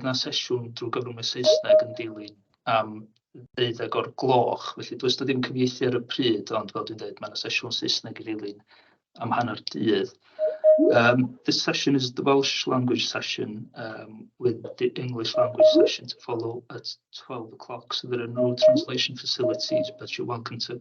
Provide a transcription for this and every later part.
Dyna sesiwn drwy gyfrwng y Saesneg yn dilyn am ddeuddeg o'r gloch, felly does 'na ddim cyfieithu ar y pryd, ond fel dwi'n dweud, mae 'na sesiwn Saesneg i ddilyn am hanner dydd. Um, this session is the Welsh language session um, with the English language session to follow at 12 o'clock. So there are no translation facilities, but you're welcome to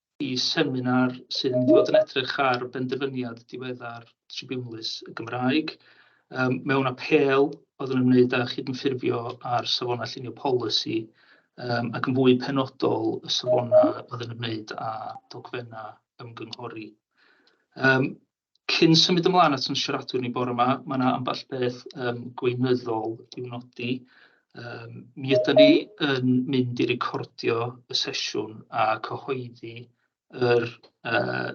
y seminar sydd yn mynd i fod yn edrych ar benderfyniad diweddar Tribiwnlys y Gymraeg mewn apêl oedd yn ymwneud â chydymffurfio â'r safonau llunio polisi ac yn fwy penodol y safonau oedd yn ymwneud â dogfennau ymgynghori. Cyn symud ymlaen at yn siaradwyr ni bore yma, mae yna ambell beth um, gweinyddol i'w nodi. Um, mi ydym ni yn mynd i recordio y sesiwn a cyhoeddi yr uh,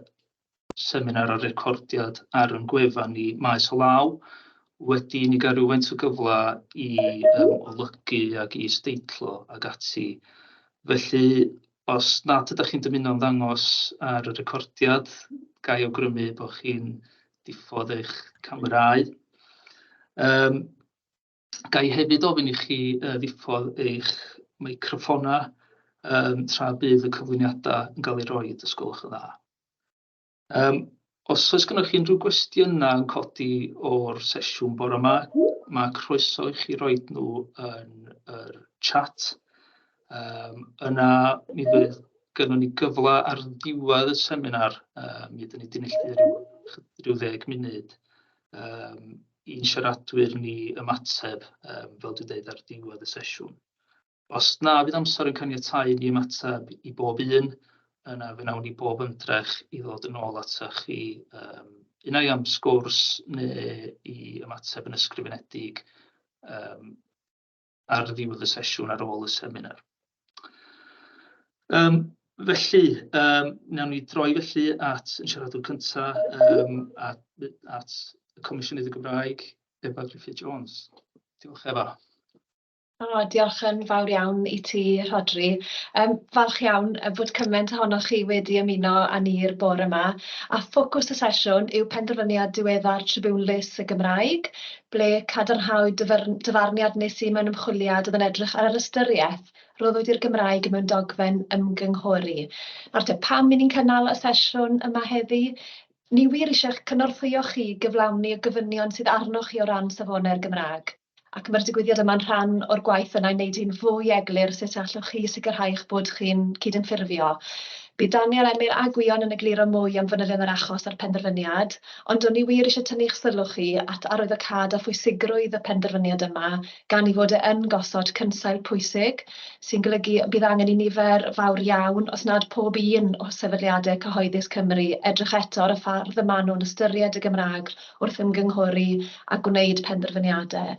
seminar a'r recordiad ar yn gwefan ni maes o law. Wedi ni gael rhywfaint o gyfle i um, olygu ac i steitlo ac ati. Felly, Os nad ydych chi'n dymuno ymddangos ar y recordiad, ga i awgrymu eich bod chi'n diffodd eich camerâu. Yym, ga i hefyd ofyn i chi ddiffodd eich meicroffonnau tra bydd y cyflwyniadau yn cael eu rhoi, os gwelwch yn dda. Yym os oes gennych chi unrhyw gwestiynau yn codi o'r sesiwn bore 'ma, ma' croeso i chi roid nhw yn yr chat, yym yna mi fydd gynnon ni gyfle ar ddiwedd y seminar, yy mi fyddan ni 'di neilltuo ryw chydig ryw ddeg munud yym i'n siaradwyr ni ymateb yym fel dwi'n deud ar ddiwedd y sesiwn. Os na fydd amser yn caniatáu i ni ymateb i bob un, yna fe wnawn ni bob ymdrech i ddod yn ôl atoch chi yym unai am sgwrs neu i ymateb yn ysgrifenedig yym ar ddiwedd y sesiwn ar ôl y seminar. Um, felly, um, nawn ni droi felly at yn siaradwr cyntaf um, at, at y Comisiynydd y Gymraeg, Efa Griffith Jones. Diolch Efa. O, diolch yn fawr iawn i ti, Rhodri. Yym, falch iawn bod cyment ohonoch chi wedi ymuno â ni'r bore 'ma, a ffocws y sesiwn yw penderfyniad diweddar Tribunal Lys y Gymraeg, ble cadarnhawyd dyfyrn- dyfarniad nes i mewn ymchwiliad oedd yn edrych ar yr ystyriaeth roddwyd i'r Gymraeg mewn dogfen ymgynghori. Nawr te, pam 'yn ni'n cynnal y sesiwn yma heddi? Ni wir eisiau eich cynorthwyo chi i gyflawni y gofynion sydd arnoch chi o ran safonau'r Gymraeg. ac mae'r digwyddiad yma'n rhan o'r gwaith yna i wneud hi'n fwy eglur sut allwch chi sicrhau eich bod chi'n cydymffurfio. Bydd Daniel, Emyr a Gwion yn egluro mwy am fanylion yr achos a'r penderfyniad, ond o'n i wir eisiau tynnu'ch sylw chi at arwyddocâd a phwysigrwydd y penderfyniad yma gan ei fod e yn gosod cynsail pwysig, sy'n golygu y bydd angen i nifer fawr iawn, os nad pob un, o sefydliadau cyhoeddus Cymru edrych eto ar y ffordd y maen nhw'n ystyried y Gymraeg wrth ymgynghori a gwneud penderfyniadau.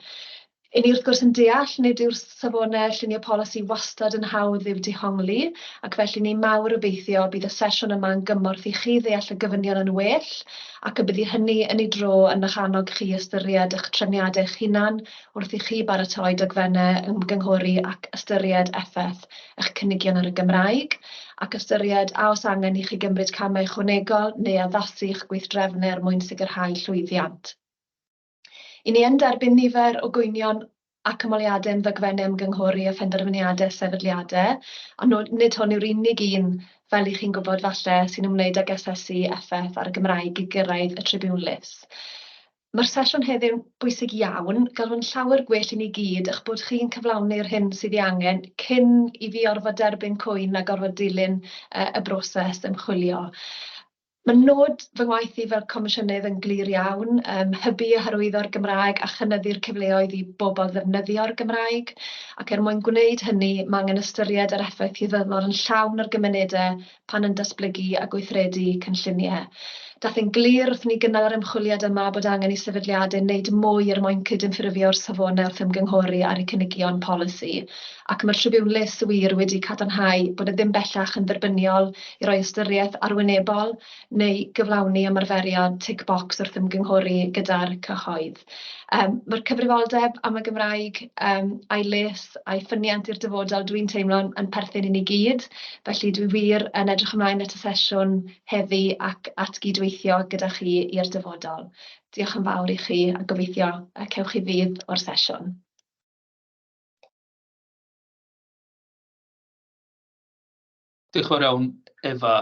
I ni wrth gwrs yn deall nid yw'r safonau llunio polisi wastad yn hawdd i'w dehongli ac felly ni mawr obeithio bydd y sesiwn yma yn gymorth i chi ddeall y gofynion yn well ac y byddi hynny yn ei dro yn eich annog chi i ystyried eich trefniadau eich hunan wrth i chi baratoi dogfennau ymgynghori ac ystyried effaith eich cynigion ar y Gymraeg, ac ystyried a oes angen i chi gymryd camau ychwanegol neu addasu eich gweithdrefnau er mwyn sicrhau llwyddiant. I ni yn derbyn nifer o gwynion ac ymholiadau am ddogfennau ymgynghori a phenderfyniadau sefydliadau, ond nid hwn yw'r unig un, fel i chi'n gwybod falle, sy'n ymwneud ag asesu effaith ar y Gymraeg i gyrraedd y tribiwnlys. Mae'r sesiwn heddiw'n bwysig iawn, gallwn llawer gwell i ni gyd eich bod chi'n cyflawni'r hyn sydd ei angen cyn i fi orfod derbyn cwyn a gorfod dilyn y broses ymchwilio. Mae nod fy ngwaith i fel Comisiynydd yn glir iawn, hybu a hyrwyddo'r Gymraeg a chynyddu'r cyfleoedd i bobl ddefnyddio'r Gymraeg, ac er mwyn gwneud hynny, mae angen ystyried yr effaith hirbynnol yn llawn ar gymunedau pan yn datblygu a gweithredu cynlluniau. Daeth yn glir wrth i ni gynnal yr ymchwiliad yma bod angen i sefydliadau wneud mwy er mwyn cydymffurfio'r safonau wrth ymgynghori ar eu cynigion polisi, ac mae'r tribiwnlys wir wedi cadarnhau bod e ddim bellach yn dderbyniol i roi ystyriaeth arwynebol neu gyflawni ymarferiad 'tick box' wrth ymgynghori gyda'r cyhoedd. Yym ma'r cyfrifoldeb am y Gymraeg yym a'i les a'i ffyniant i'r dyfodol dwi'n teimlo'n yn perthyn i ni gyd, felly dwi wir yn edrych ymlaen at y sesiwn heddi ac at gyd-weithio gyda chi i'r dyfodol. Diolch yn fawr i chi a gobeithio y cewch chi fudd o'r sesiwn. Diolch yn fawr iawn, Efa.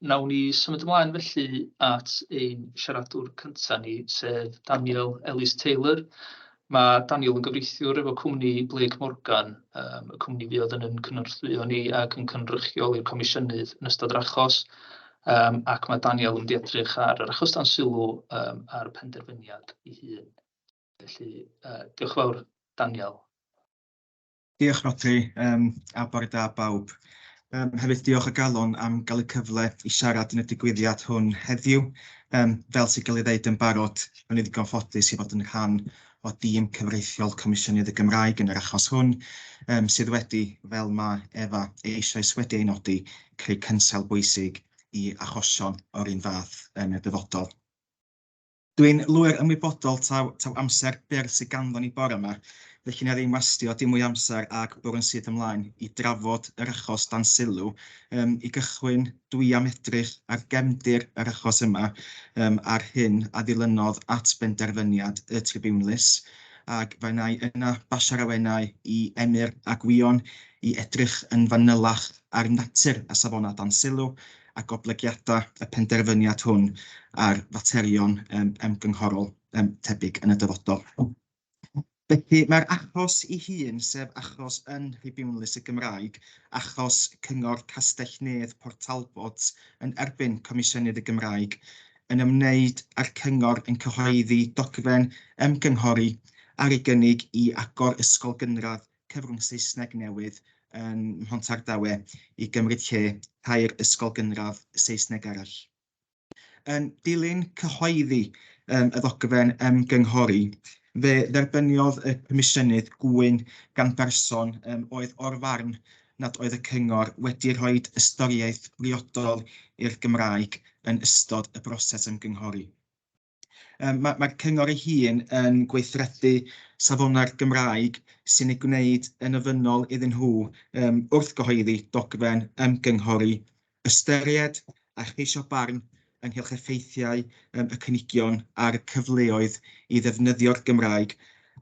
Wnawn ni symud ymlaen felly at ein siaradwr cynta ni, sef Daniel Ellis-Taylor. Mae Daniel yn gyfreithiwr efo cwmni Blake Morgan, yym y cwmni fuodd yn ein cynorthwyo ni ac yn cynrychioli'r Comisiynydd yn ystod yr achos, yym ac ma' Daniel yn mynd i edrych ar yr achos dan sylw yym a'r penderfyniad ei hun. Felly yy diolch yn fawr, Daniel. Diolch Rhodri, um, a bore da bawb. Um, hefyd diolch o galon am gael y cyfle i siarad yn y digwyddiad hwn heddiw. Um, fel sy'n cael ei ddeud yn barod, yn ei ddigon ffodus i fod yn rhan o dîm cyfreithiol Comisiynydd y Gymraeg yn yr achos hwn, um, sydd wedi, fel mae Efa eisoes wedi ei nodi, creu cynsel bwysig i achosion o'r un fath yn y dyfodol. Dwi'n lwyr ymwybodol taw, taw amser byr sydd ganddo ni bore yma, felly na ddim wastio dim mwy amser ag bwrw'n syth ymlaen i drafod yr achos dan sylw. Um, I gychwyn, dwi am edrych ar gefndir yr achos yma um, a'r hyn a ddilynodd at benderfyniad y tribiwnlys, ac fe wna i yna basio'r awenau i Emyr a Gwion i edrych yn fanylach ar natur a safonau dan sylw, a goblygiadau y penderfyniad hwn ar faterion ymgynghorol tebyg yn y dyfodol. Felly, mae'r achos ei hun, sef achos yn Rhibiwnlys y Gymraeg, achos Cyngor Castell-nedd Port Talbot yn erbyn Comisiynydd y Gymraeg, yn ymwneud â'r Cyngor yn cyhoeddi dogfen ymgynghori ar ei gynnig i agor ysgol gynradd cyfrwng Saesneg newydd yn Mhontardawe i gymryd lle tair ysgol gynradd Saesneg arall. Yn dilyn cyhoeddi um, y ddogfen ymgynghori, fe dderbyniodd y Comisiynydd gŵyn gan berson um, oedd o'r farn nad oedd y cyngor wedi rhoi ystyriaeth briodol i'r Gymraeg yn ystod y broses ymgynghori. Mae'r ma, ma cyngor ei hun yn gweithredu safonau'r Gymraeg sy'n ei gwneud yn ofynnol iddyn nhw um, wrth gyhoeddi dogfen ymgynghori ystyried a cheisio barn ynghylch effeithiau um, y cynigion a'r cyfleoedd i ddefnyddio'r Gymraeg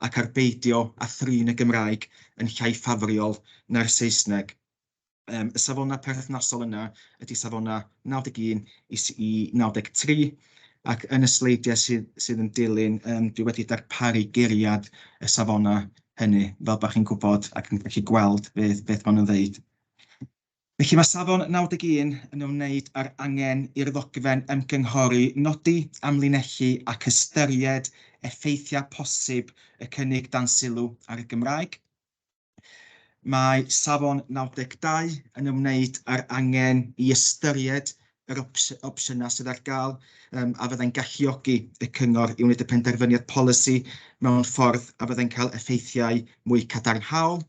ac ar beidio a thrin y Gymraeg yn llai ffafriol na'r Saesneg. Um, y safonau perthnasol yna ydy safonau 91 i 93, ac yn y sleidiau sydd, sydd yn dilyn, um, dwi wedi darparu geriad y safonau hynny, fel bod chi'n gwybod ac yn gallu gweld beth, beth maen nhw'n ddeud. Felly mae safon 91 yn ymwneud â'r angen i'r ddogfen ymgynghori nodi, amlinellu ac ystyried effeithiau posib y cynnig dan sylw ar y Gymraeg. Mae safon 92 yn ymwneud â'r angen i ystyried yr opsiynau sydd ar gael um, a fyddai'n galluogi y cyngor i wneud y penderfyniad polisi mewn ffordd a fyddai'n cael effeithiau mwy cadarnhaol.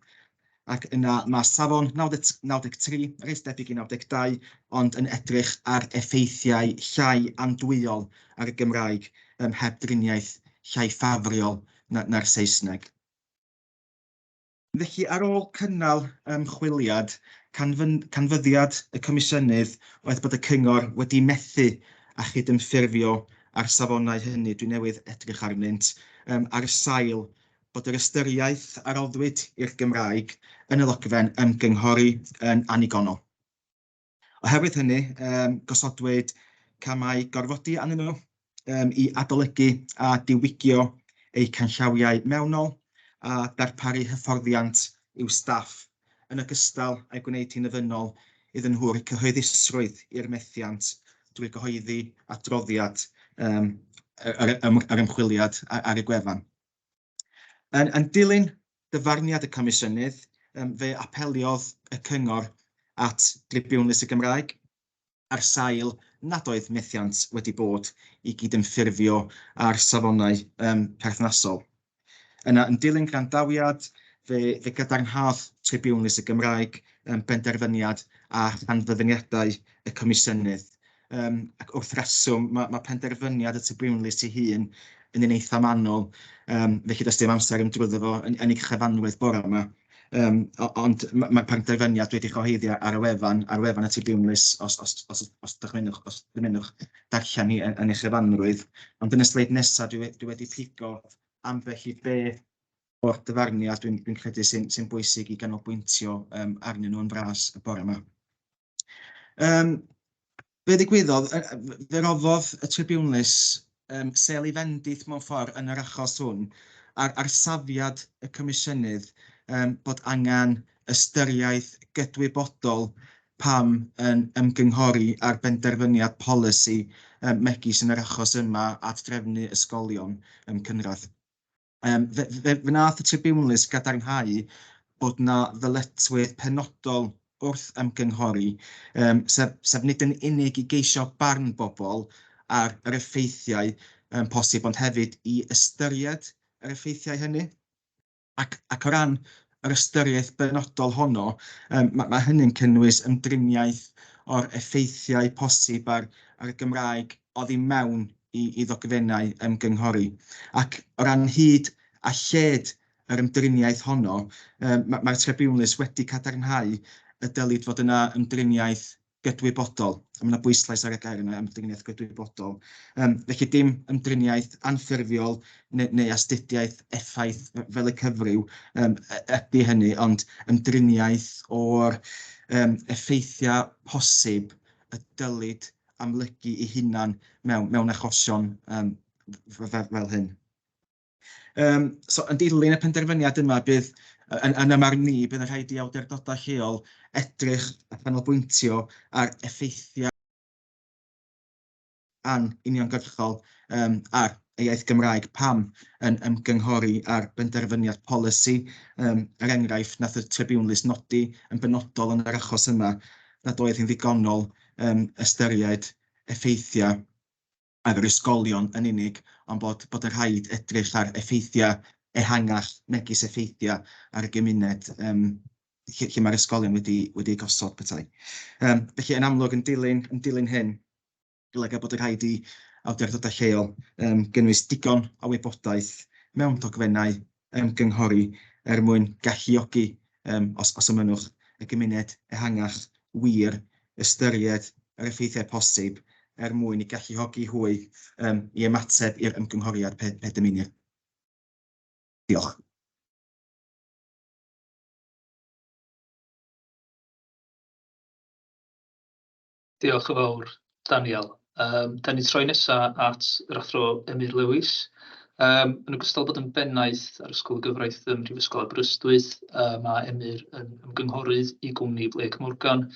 Ac yna mae safon 93, reit debyg i 92, ond yn edrych ar effeithiau llai andwyol ar y Gymraeg ym mheb driniaeth llai ffafriol na'r Saesneg. Felly, ar ôl cynnal ymchwiliad, canfyddiad y Comisiynydd oedd bod y Cyngor wedi methu â chydymffurfio â'r safonau hynny, dwi newydd edrych arnynt, ar sail bod yr ystyriaeth a roddwyd i'r Gymraeg yn y ddogfen ymgynghori yn annigonol. Oherwydd hynny, gosodwyd camau gorfodi arnyn nhw i adolygu a diwygio eu canllawiau mewnol a darparu hyfforddiant i'w staff, yn ogystal â'i gwneud hi'n ofynnol iddyn nhw roi cyhoeddusrwydd i'r methiant drwy gyhoeddi adroddiad yr ymchwiliad ar y gwefan. Yn, yn dilyn dyfarniad y Comisiynydd, um, fe apeliodd y Cyngor at Dribiwnlys y Gymraeg ar sail nad oedd methiant wedi bod i gydymffurfio â'r safonau um, perthnasol. Yna, yn dilyn grandawiad, fe, fe gadarnhad Tribiwnlys y Gymraeg um, benderfyniad a rhanfyddiniadau y Comisiynydd Um, ac wrth reswm, mae, mae penderfyniad y Tribiwnlys ei hun yn un eitha manwl, um, felly does dim amser yn drwyddo fo yn, yn ei chyfanwedd bore yma. Um, ond mae'r ma penderfyniad wedi cyhoeddi ar y wefan, ar wefan y Tribiwnlys, os, os, os, os, dychmynwch, os dymunwch darllen ni yn, yn ei chyfanrwydd. Ond yn y sleid nesaf, dwi, dwi wedi pigo ambell i be o'r dyfarniad dwi'n dwi credu sy'n sy bwysig i ganolbwyntio um, arnyn nhw'n fras y bore yma. Um, be ddigwyddodd, fe roddodd y tribiwnlys um, sel i fendith mewn ffordd yn yr achos hwn ar, ar safiad y comisiynydd um, bod angen ystyriaeth gydwybodol pam yn ymgynghori ar benderfyniad polisi um, megis yn yr achos yma at drefnu ysgolion um, cynradd. Um, fe, fe, fe nath y tribiwnlys gadarnhau bod na ddyletswydd penodol wrth ymgynghori, um, sef, sef nid yn unig i geisio barn bobl ar yr effeithiau um, posib, ond hefyd i ystyried yr effeithiau hynny. Ac, ac o ran yr ystyriaeth benodol honno, um, mae, mae hynny'n cynnwys ymdriniaeth o'r effeithiau posib ar, ar y Gymraeg oddi mewn i, i ddogfennau ymgynghori. Ac o ran hyd a lled yr ymdriniaeth honno, um, mae'r mae Tribiwnlys wedi cadarnhau y dylid fod yna ymdriniaeth gydwybodol. Mae yna bwyslais ar y gair yna, ymdriniaeth gydwybodol. Um, felly dim ymdriniaeth anffurfiol neu, neu astudiaeth effaith fel y cyfryw um, ydy hynny, ond ymdriniaeth o'r um, effeithiau posib y dylid amlygu i hunan mewn, mewn achosion um, fel hyn. Yym, so yn dilyn y penderfyniad yma, bydd, yn, yn ymwneud ni, bydd yn rhaid i awdurdodau lleol edrych a chanolbwyntio ar effeithiau an uniongyrchol um, ar y iaith Gymraeg pam yn ymgynghori ar benderfyniad polisi, um, er enghraifft nath y tribiwnlys nodi yn benodol yn yr achos yma nad oedd hi'n ddigonol um, ystyried effeithiau ar yr ysgolion yn unig, ond bod bod yn rhaid edrych ar effeithiau ehangach megis effeithiau ar y gymuned yym lle lle mae'r ysgolion wedi wedi eu gosod petai. Yym felly yn amlwg yn dilyn yn dilyn hyn golyga bod yn rhaid i awdurdodau lleol yym gynnwys digon o wybodaeth mewn dogfennau ymgynghori er mwyn galluogi, um, os, os ymynwch, y gymuned ehangach wir ystyried yr effeithiau posib er mwyn i galluogi hwy um, i ymateb i'r ymgynghoriad pe, pe dymunir. Diolch. Diolch yn fawr, Daniel. Yym dan ni'n troi nesa at yr Athro Emyr Lewis. Yym yn ogystal â bod yn bennaeth ar Ysgol y Gyfraith ym Mhrifysgol Aberystwyth, yy ma' Emyr yn ymgynghorydd i gwmni Blake Morgan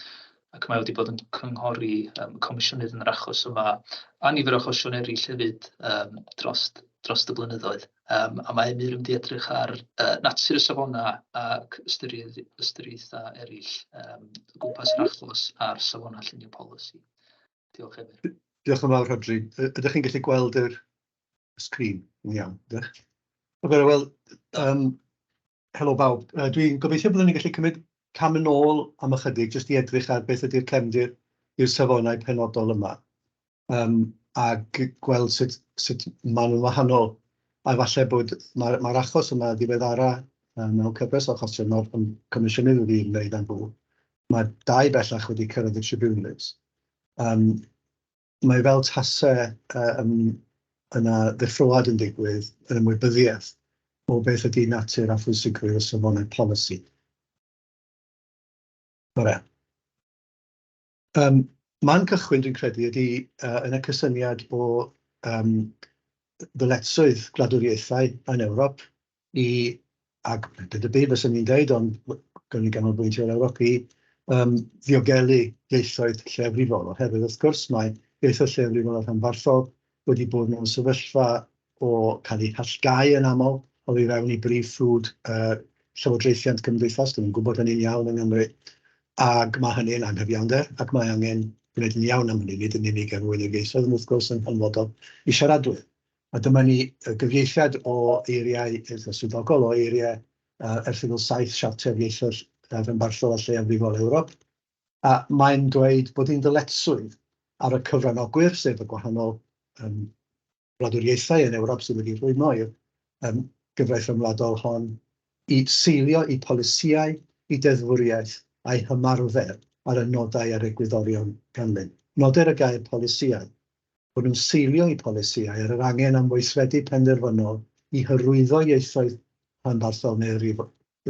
ac mae o wedi bod yn cynghori yym y Comisiynydd yn yr achos yma a nifer o achosion eraill hefyd yym drost drost y blynyddoedd. yym a mae Emyr yn mynd i edrych ar yy natur y safonau ac ystyriaeth- ystyriaethau eraill yym o gwmpas yr achos a'r safonau llunio polisi. Diolch Emyr. Diolch yn fawr Rhodri. Yy ydach chi'n gallu gweld yr sgrîn yn iawn, ydach? Wel yym Helo bawb. Dwi'n gobeithio byddwn ni'n gallu cymryd cam yn ôl am ychydig jyst i edrych ar beth ydy'r cefndir i'r safonau penodol yma, a gweld sut maen nhw'n wahanol. A efallai bod mae'r achos yma ddiweddara mewn cyfres o achosion oedd yn comisiynnu iddi fi ymwneud â nhw. Mae dau bellach wedi cyrraedd y tribiwnlys. mae fel tase yna ddeffroad yn digwydd yn ymwybyddiaeth o beth ydy natur a phwysigrwydd y safonau polisi. Bore. Um, man cychwyn, dwi'n credu, ydy uh, yn y cysyniad o um, ddyletsoedd gwladwriaethau yn Ewrop, i, ac nid y byd fyswn i'n dweud, ond gawn ni ganolbwyntio ar Ewrop, i um, ddiogelu ieithoedd lleafrifol, oherwydd wrth gwrs mae ieithoedd lleafrifol a rhanbarthol wedi bod mewn sefyllfa o cael eu hallgau yn aml o i fewn i brif ffrwd uh, llywodraethiant cymdeithas, dyn ni'n gwybod hynny'n iawn yng Nghymru, ac mae hynny'n anghyfiawnder, ac mae angen gwneud yn iawn am hynny, nid yn unig er mwyn y ieithoedd, ond wrth gwrs yn hanfodol i siaradwyr. A dyma ni, y gyfieithiad o eiriau, eitha swyddogol, o eiriau Erthygl 7 Siarter Ieithoedd Rhanbarthol a Lleiafrifol Ewrop, a mae'n dweud bod hi'n ddyletswydd ar y cyfranogwyr, sef y gwahanol wladwriaethau yn Ewrop sydd wedi rhwymo i'r gyfraith ryngwladol hon, i seilio eu polisïau, eu deddfwriaeth a'u hymarfer ar y nodau a'r egwyddorion ganlyn. Noder y gair polisïau bod yn seilio ei polisïau ar yr angen am weithredu penderfynol i hyrwyddo ieithoedd rhanbarthol neu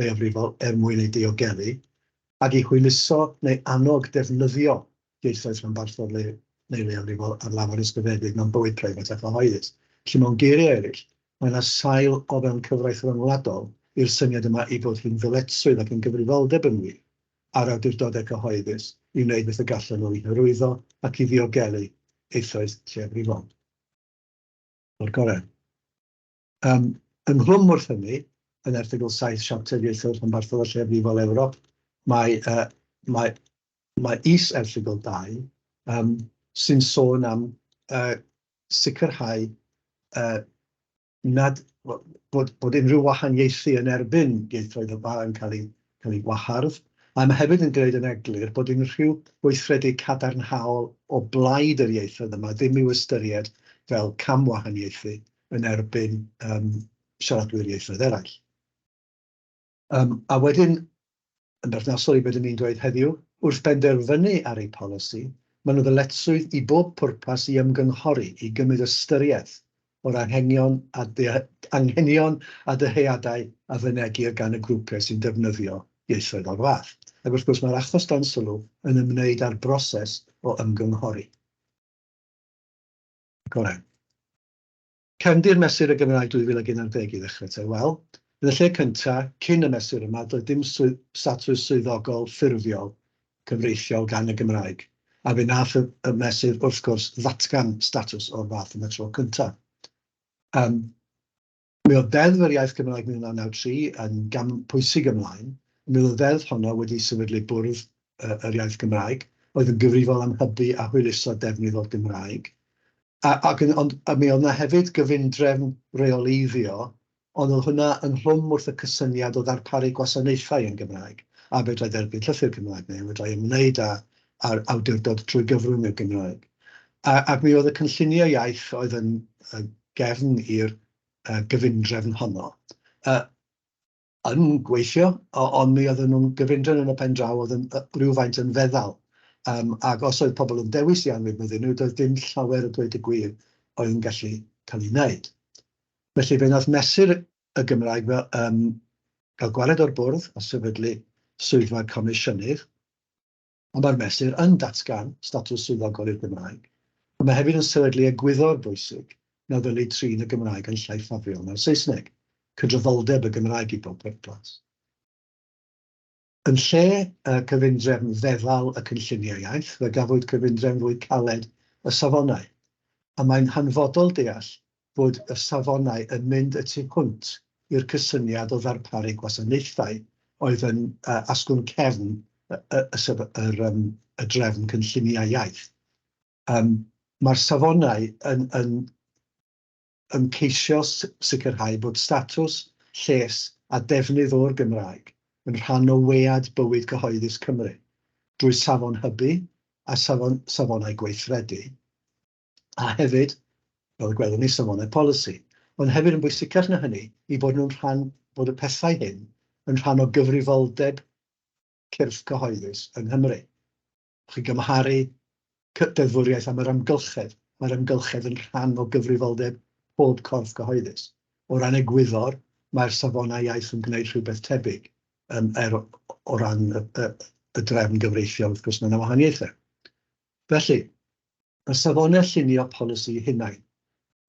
leiafrifol er mwyn eu diogelu, ac i hwyluso neu annog defnyddio ieithoedd rhanbarthol neu leiafrifol ar lafar ysgrifenedig mewn bywyd preifat a chyhoeddus. Felly, mewn geiriau eraill, mae yna sail o fewn cyfraith ryngwladol i'r syniad yma ei bod hi'n ddyletswydd ac yn gyfrifoldeb yn wir a'r awdurdodau cyhoeddus i wneud beth y gallan nhw i hyrwyddo ac i ddiogelu eisoes lleiafrifol o'r gorau. Ym ynghlwm wrth hynny, yn erthygl saith Siarter Ieithoedd Rhanbarthol a Lleiafrifol Ewrop, mae yy mae mae is-erthygl dau yym sy'n sôn am yy sicrhau yy nad, wel, bod, bod unrhyw wahaniaethu yn erbyn ieithoedd y Bar yn cael ei, cael ei wahardd, a mae hefyd yn gwneud yn eglur bod unrhyw weithredu cadarnhaol o blaid yr ieithoedd yma ddim i'w ystyried fel camwahaniaethu yn erbyn um, siaradwyr ieithoedd eraill. Yym, a wedyn, yn berthnasol i be dyn ni'n dweud heddiw, wrth benderfynu ar eu polisi, maen nhw ddyletswydd i bob pwrpas i ymgynghori, i gymryd ystyriaeth o'r anghenion a anghenion a dyheadau a fynegir gan y grwpiau sy'n defnyddio ieithoedd o'r fath. Ac wrth gwrs, mae'r achos dan sylw yn ymwneud â'r broses o ymgynghori. Goren. Cefndir Mesur y Gymraeg 2011 i ddechrau te. Wel, yn y lle cyntaf, cyn y mesur yma, doedd dim statws swyddogol ffurfiol cyfreithiol gan y Gymraeg, a fe wnaeth y mesur, wrth gwrs, ddatgan statws o'r fath yn y tro cyntaf. Ym mi oedd Ddeddf yr Iaith Gymraeg 1993 yn gam pwysig ymlaen, y mi oedd y ddeddf honno wedi sefydlu Bwrdd yr Iaith Gymraeg, oedd yn gyfrifol am hybu a hwyluso defnydd o'r Gymraeg, A ac yn ond a mi oedd 'na hefyd gyfundrefn reoleiddio, ond oedd hwnna ynghlwm wrth y cysyniad o ddarparu gwasanaethau yn Gymraeg, a fedrai dderbyn llythyr Cymraeg, neu fedrai ymwneud â â'r awdurdod trwy gyfrwng y Gymraeg. A ac mi oedd y cynlluniau iaith oedd yn yn gefn i'r yy gyfundrefn honno. Yy. yn gweithio, ond mi oedden nhw'n gyfundrefn yn y pen draw, oedd yn rywfaint yn feddal. Yym ac os oedd pobl yn dewis i anwybyddu nhw, doedd dim llawer o dweud y gwir oedd yn gallu cael ei wneud. Felly fe wnaeth Mesur y Gymraeg fel yym gael gwared o'r bwrdd a sefydlu Swyddfa'r Comisiynydd. ond mae'r mesur yn datgan statws swyddogol i'r Gymraeg, ond mae hefyd yn sefydlu egwyddor bwysig na ddylid trin y Gymraeg yn llai ffafriol na'r Saesneg, cydraddoldeb y Gymraeg i bob pwrpas. Yn lle y cyfundrefn feddal y cynlluniau iaith, fe gafwyd cyfundrefn fwy caled y safonau, a mae'n hanfodol deall fod y safonau yn mynd y tu hwnt i'r cysyniad o ddarparu gwasanaethau oedd yn asgwrn cefn y drefn cynlluniau iaith. Mae'r safonau yn ymgeisio sicrhau bod statws, lles a defnydd o'r Gymraeg yn rhan o wead bywyd cyhoeddus Cymru, drwy safon hybu a safonau gweithredu, a hefyd, fel y gwelwn ni, safonau polisi, ond hefyd yn bwysicach na hynny, i fod nhw'n rhan, bod y pethau hyn yn rhan o gyfrifoldeb cyrff cyhoeddus yng Nghymru. Chi'n gymharu deddfwriaeth am yr amgylchedd, mae'r amgylchedd yn rhan o gyfrifoldeb pob corff cyhoeddus. O ran egwyddor, mae'r safonau iaith yn gwneud rhywbeth tebyg, um, er, o ran y, y, y drefn gyfreithiol, wrth gwrs, mae yna wahaniaethau. Felly, y safonau llunio polisi hunain.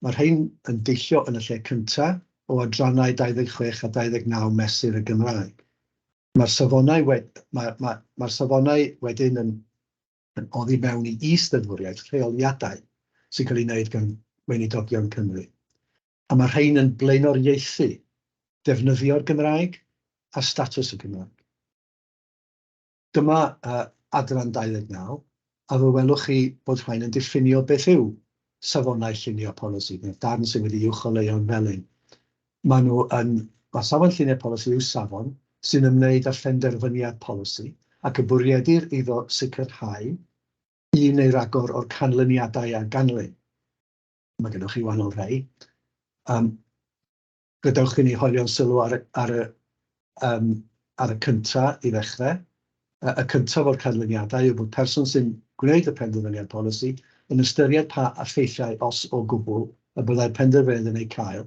Mae rhain yn deillio yn y lle cyntaf o adrannau 26 a 29 Mesur y Gymraeg. Mae'r safonau wed-, mae, mae, mae'r safonau wedyn yn yn oddi mewn i is-ddeddfwriaeth rheoliadau sy'n cael ei wneud gan Weinidogion Cymru. A mae rhain yn blaenoriaethu defnyddio'r Gymraeg a statws y Gymraeg. Dyma adran 29, a fe welwch chi bod rhain yn diffinio beth yw safonau llunio polisi, neu'r darn sydd wedi'i uwcholeuo'n felyn. Maen nhw yn... Mae safon llunio polisi yw safon sy'n ymwneud â phenderfyniad polisi ac y bwriedir iddo sicrhau un neu ragor o'r canlyniadau a ganlyn. Mae gennych chi wahanol rai. Gadewch i ni hoelio'n sylw ar y, ar y, um, ar y cynta i ddechrau. Y cyntaf o'r canlyniadau yw bod person sy'n gwneud y penderfyniad polisi yn ystyried pa effeithiau, os o gwbl, y byddai'r penderfyniad yn eu cael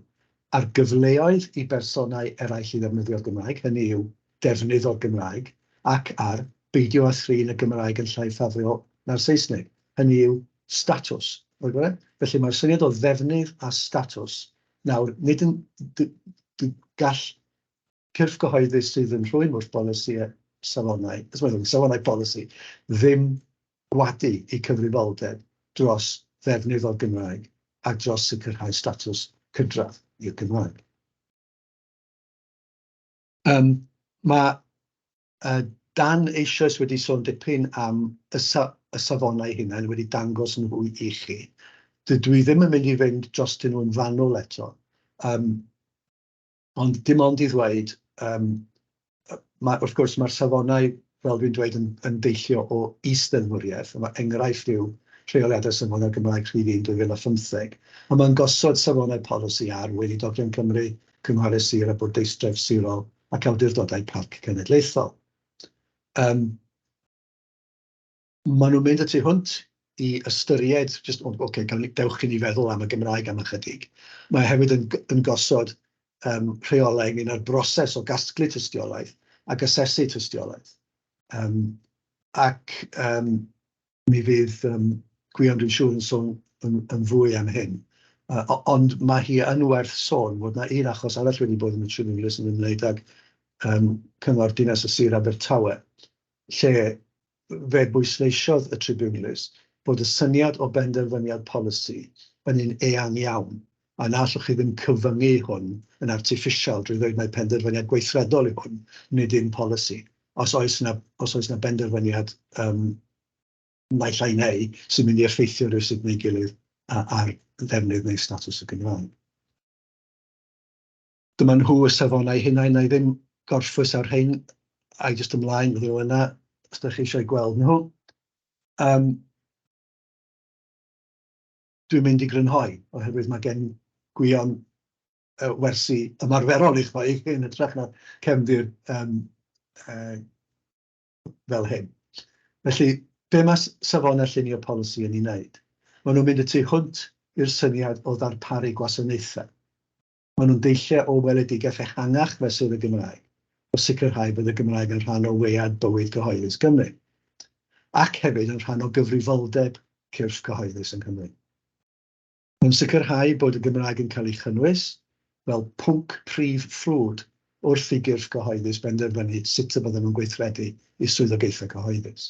ar gyfleoedd i bersonau eraill i ddefnyddio'r Gymraeg, hynny yw, defnydd o'r Gymraeg, ac ar beidio â thrin y Gymraeg yn llai ffafriol na'r Saesneg, hynny yw, statws. Felly mae'r syniad o ddefnydd a statws Nawr, nid yn... d- d- gall cyrff gyhoeddus sydd yn rhwym wrth bolisi safonau, sori, safonau polisi, ddim gwadu eu cyfrifoldeb dros ddefnydd o'r Gymraeg a dros sicrhau statws cydradd i'r Gymraeg. Yym, mae Dan eisoes wedi sôn dipyn am y y safonau eu hunain, wedi dangos nhw i chi. Dydw i ddim yn mynd i fynd drostyn nhw yn fanwl eto, yym, ond dim ond i ddweud, yym, ma' wrth gwrs ma'r safonau, fel dwi'n dweud, yn yn deillio o is-ddeddfwriaeth, a ma' enghraifft yw Rheoliadau Safonau Cymraeg Rhif Un 2015, a ma'n gosod safonau polisi ar weinidog Cymru, cynghorau sir a bwrdeistref sirol, ac awdurdodau parc cenedlaethol. Yym, maen nhw'n mynd y tu hwnt i ystyried jyst, o ocê, gawn ni, dewch i ni feddwl am y Gymraeg am ychydig. Mae e hefyd yn yn gosod yym rheolau ynglŷn â'r broses o gasglu tystiolaeth ac asesu tystiolaeth. Yym ac yym Mi fydd yym Gwion dwi'n siŵr yn sôn yn yn fwy am hyn. Yy o- ond ma' hi yn werth sôn fod 'na un achos arall wedi bod yn y Tribiwnlys yn ymwneud ag yym Cyngor Dinas y Sir Abertawe, lle fe bwysleisiodd y Tribiwnlys bod y syniad o benderfyniad polisi yn un eang iawn A na allwch chi ddim cyfyngu hwn yn artiffisial drwy ddweud mai penderfyniad gweithredol yw hwn, nid yw'n polisi. Os oes 'na, os oes 'na benderfyniad yym naill ai neu sy'n mynd i effeithio rywsut neu'i gilydd ar ddefnydd neu statws y Gymraeg. Dyma nhw y safonau hunain, wna i ddim gorffwys ar rhein, ai jyst ymlaen, fydden nhw yna os dach chi eisiau gweld nhw. Yym. dwi'n mynd i grynhoi, oherwydd mae gen Gwion wersi ymarferol i rhoi yn hytrach na cefndir fel hyn. Felly, be mae Safonau Llunio Polisi yn ei wneud? Maen nhw'n mynd y tu hwnt i'r syniad o ddarparu gwasanaethau. Maen nhw'n deilliau o weledigaeth ehangach fesul y Gymraeg, o sicrhau bod y Gymraeg yn rhan o wead bywyd cyhoeddus Cymru, ac hefyd yn rhan o gyfrifoldeb cyrff cyhoeddus yng Nghymru. Mae'n sicrhau bod y Gymraeg yn cael ei chynnwys fel pwnc prif ffrwd wrth i gyrff cyhoeddus benderfynu sut y byddan nhw'n gweithredu eu swyddogaethau cyhoeddus.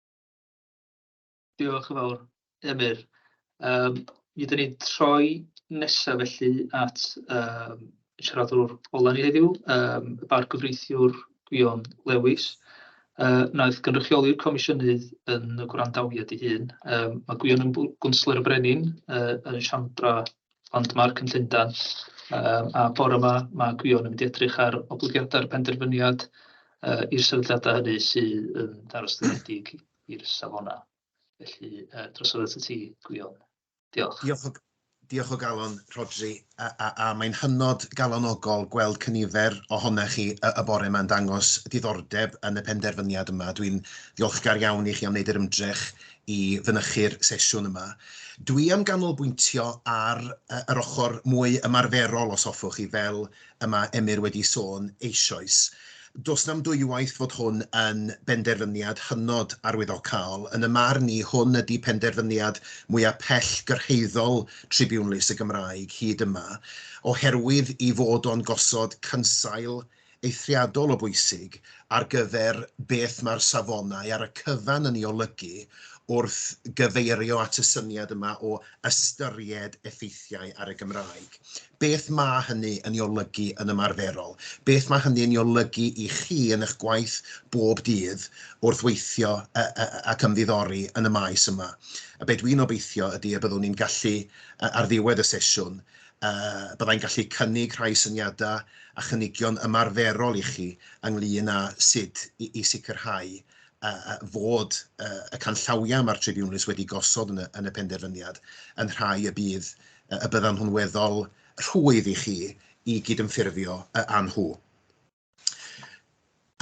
Diolch yn fawr, Emyr. Yym mi ydan ni'n troi nesa felly at yym y siaradwr ola ni heddiw, yym y bargyfreithiwr Gwion Lewis, yy wnaeth gynrychioli'r comisiynydd yn y gwrandawiad ei hun. Yym ma' Gwion yn bw- gwnsler y Brenin yy yn y Siambra Ond mae'r cynllundan yy a bore 'ma ma' Gwion yn mynd i edrych ar oblygiadau'r penderfyniad yy i'r sefydliadau hynny sydd yn ddarostyngedig i'r safonau. Felly yy drosodd at y ti Gwion. Diolch. Diolch o diolch o galon Rhodri a, a, a mae'n hynod galonogol gweld cynifer ohonoch chi y, y bore yma'n dangos diddordeb yn y penderfyniad yma. Dwi'n ddiolchgar iawn i chi am wneud yr ymdrech i fynychu'r sesiwn yma. Dwi am ganolbwyntio ar yr ochr mwy ymarferol os hoffwch chi, fel y mae Emyr wedi sôn eisoes. Does na'm dwywaith fod hwn yn benderfyniad hynod arwyddocaol. Yn 'y marn i, hwn ydi penderfyniad mwya' pellgyrhaeddol Tribiwnlys y Gymraeg hyd yma, oherwydd 'i fod o'n gosod cynsail eithriadol o bwysig ar gyfer beth mae'r safonau ar y cyfan yn ei olygu wrth gyfeirio at y syniad yma o ystyried effeithiau ar y Gymraeg. Beth mae hynny yn ei olygu yn ymarferol? Beth mae hynny yn ei olygu i chi yn eich gwaith bob dydd wrth weithio ac ymddiddori yn y maes yma? A be dwi'n obeithio ydy y byddwn ni'n gallu, ar ddiwedd y sesiwn, Byddai'n gallu cynnig rhai syniadau a chynigion ymarferol i chi ynglŷn â sut i sicrhau fod y canllawiau mae'r tribiwnlys wedi gosod yn y penderfyniad yn rhai y bydd y byddan nhw'n weddol rhwydd i chi i gydymffurfio â nhw.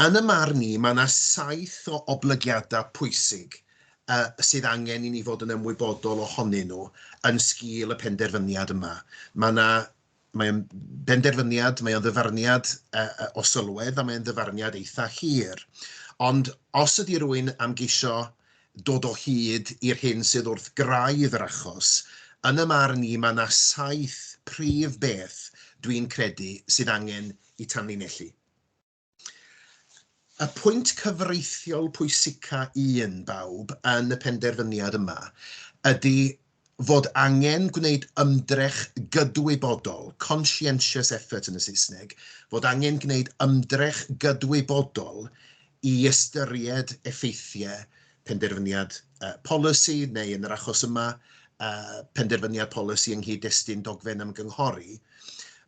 Yn y marn i, mae yna saith o oblygiadau pwysig sydd angen i ni fod yn ymwybodol ohonyn nhw yn sgil y penderfyniad yma. Mae yna, mae o'n benderfyniad, mae o'n ddyfarniad o sylwedd a mae o'n ddyfarniad eitha hir. Ond os ydy rwy'n am geisio dod o hyd i'r hyn sydd wrth graidd yr achos, yn y marn i mae yna saith prif beth dwi'n credu sydd angen i tanlinellu. Y pwynt cyfreithiol pwysica un bawb yn y penderfyniad yma ydy fod angen gwneud ymdrech gydwybodol, conscientious effort yn y Saesneg, fod angen gwneud ymdrech gydwybodol i ystyried effeithiau penderfyniad polisi neu, yn yr achos yma, penderfyniad polisi yng nghyd-destun dogfen ymgynghori,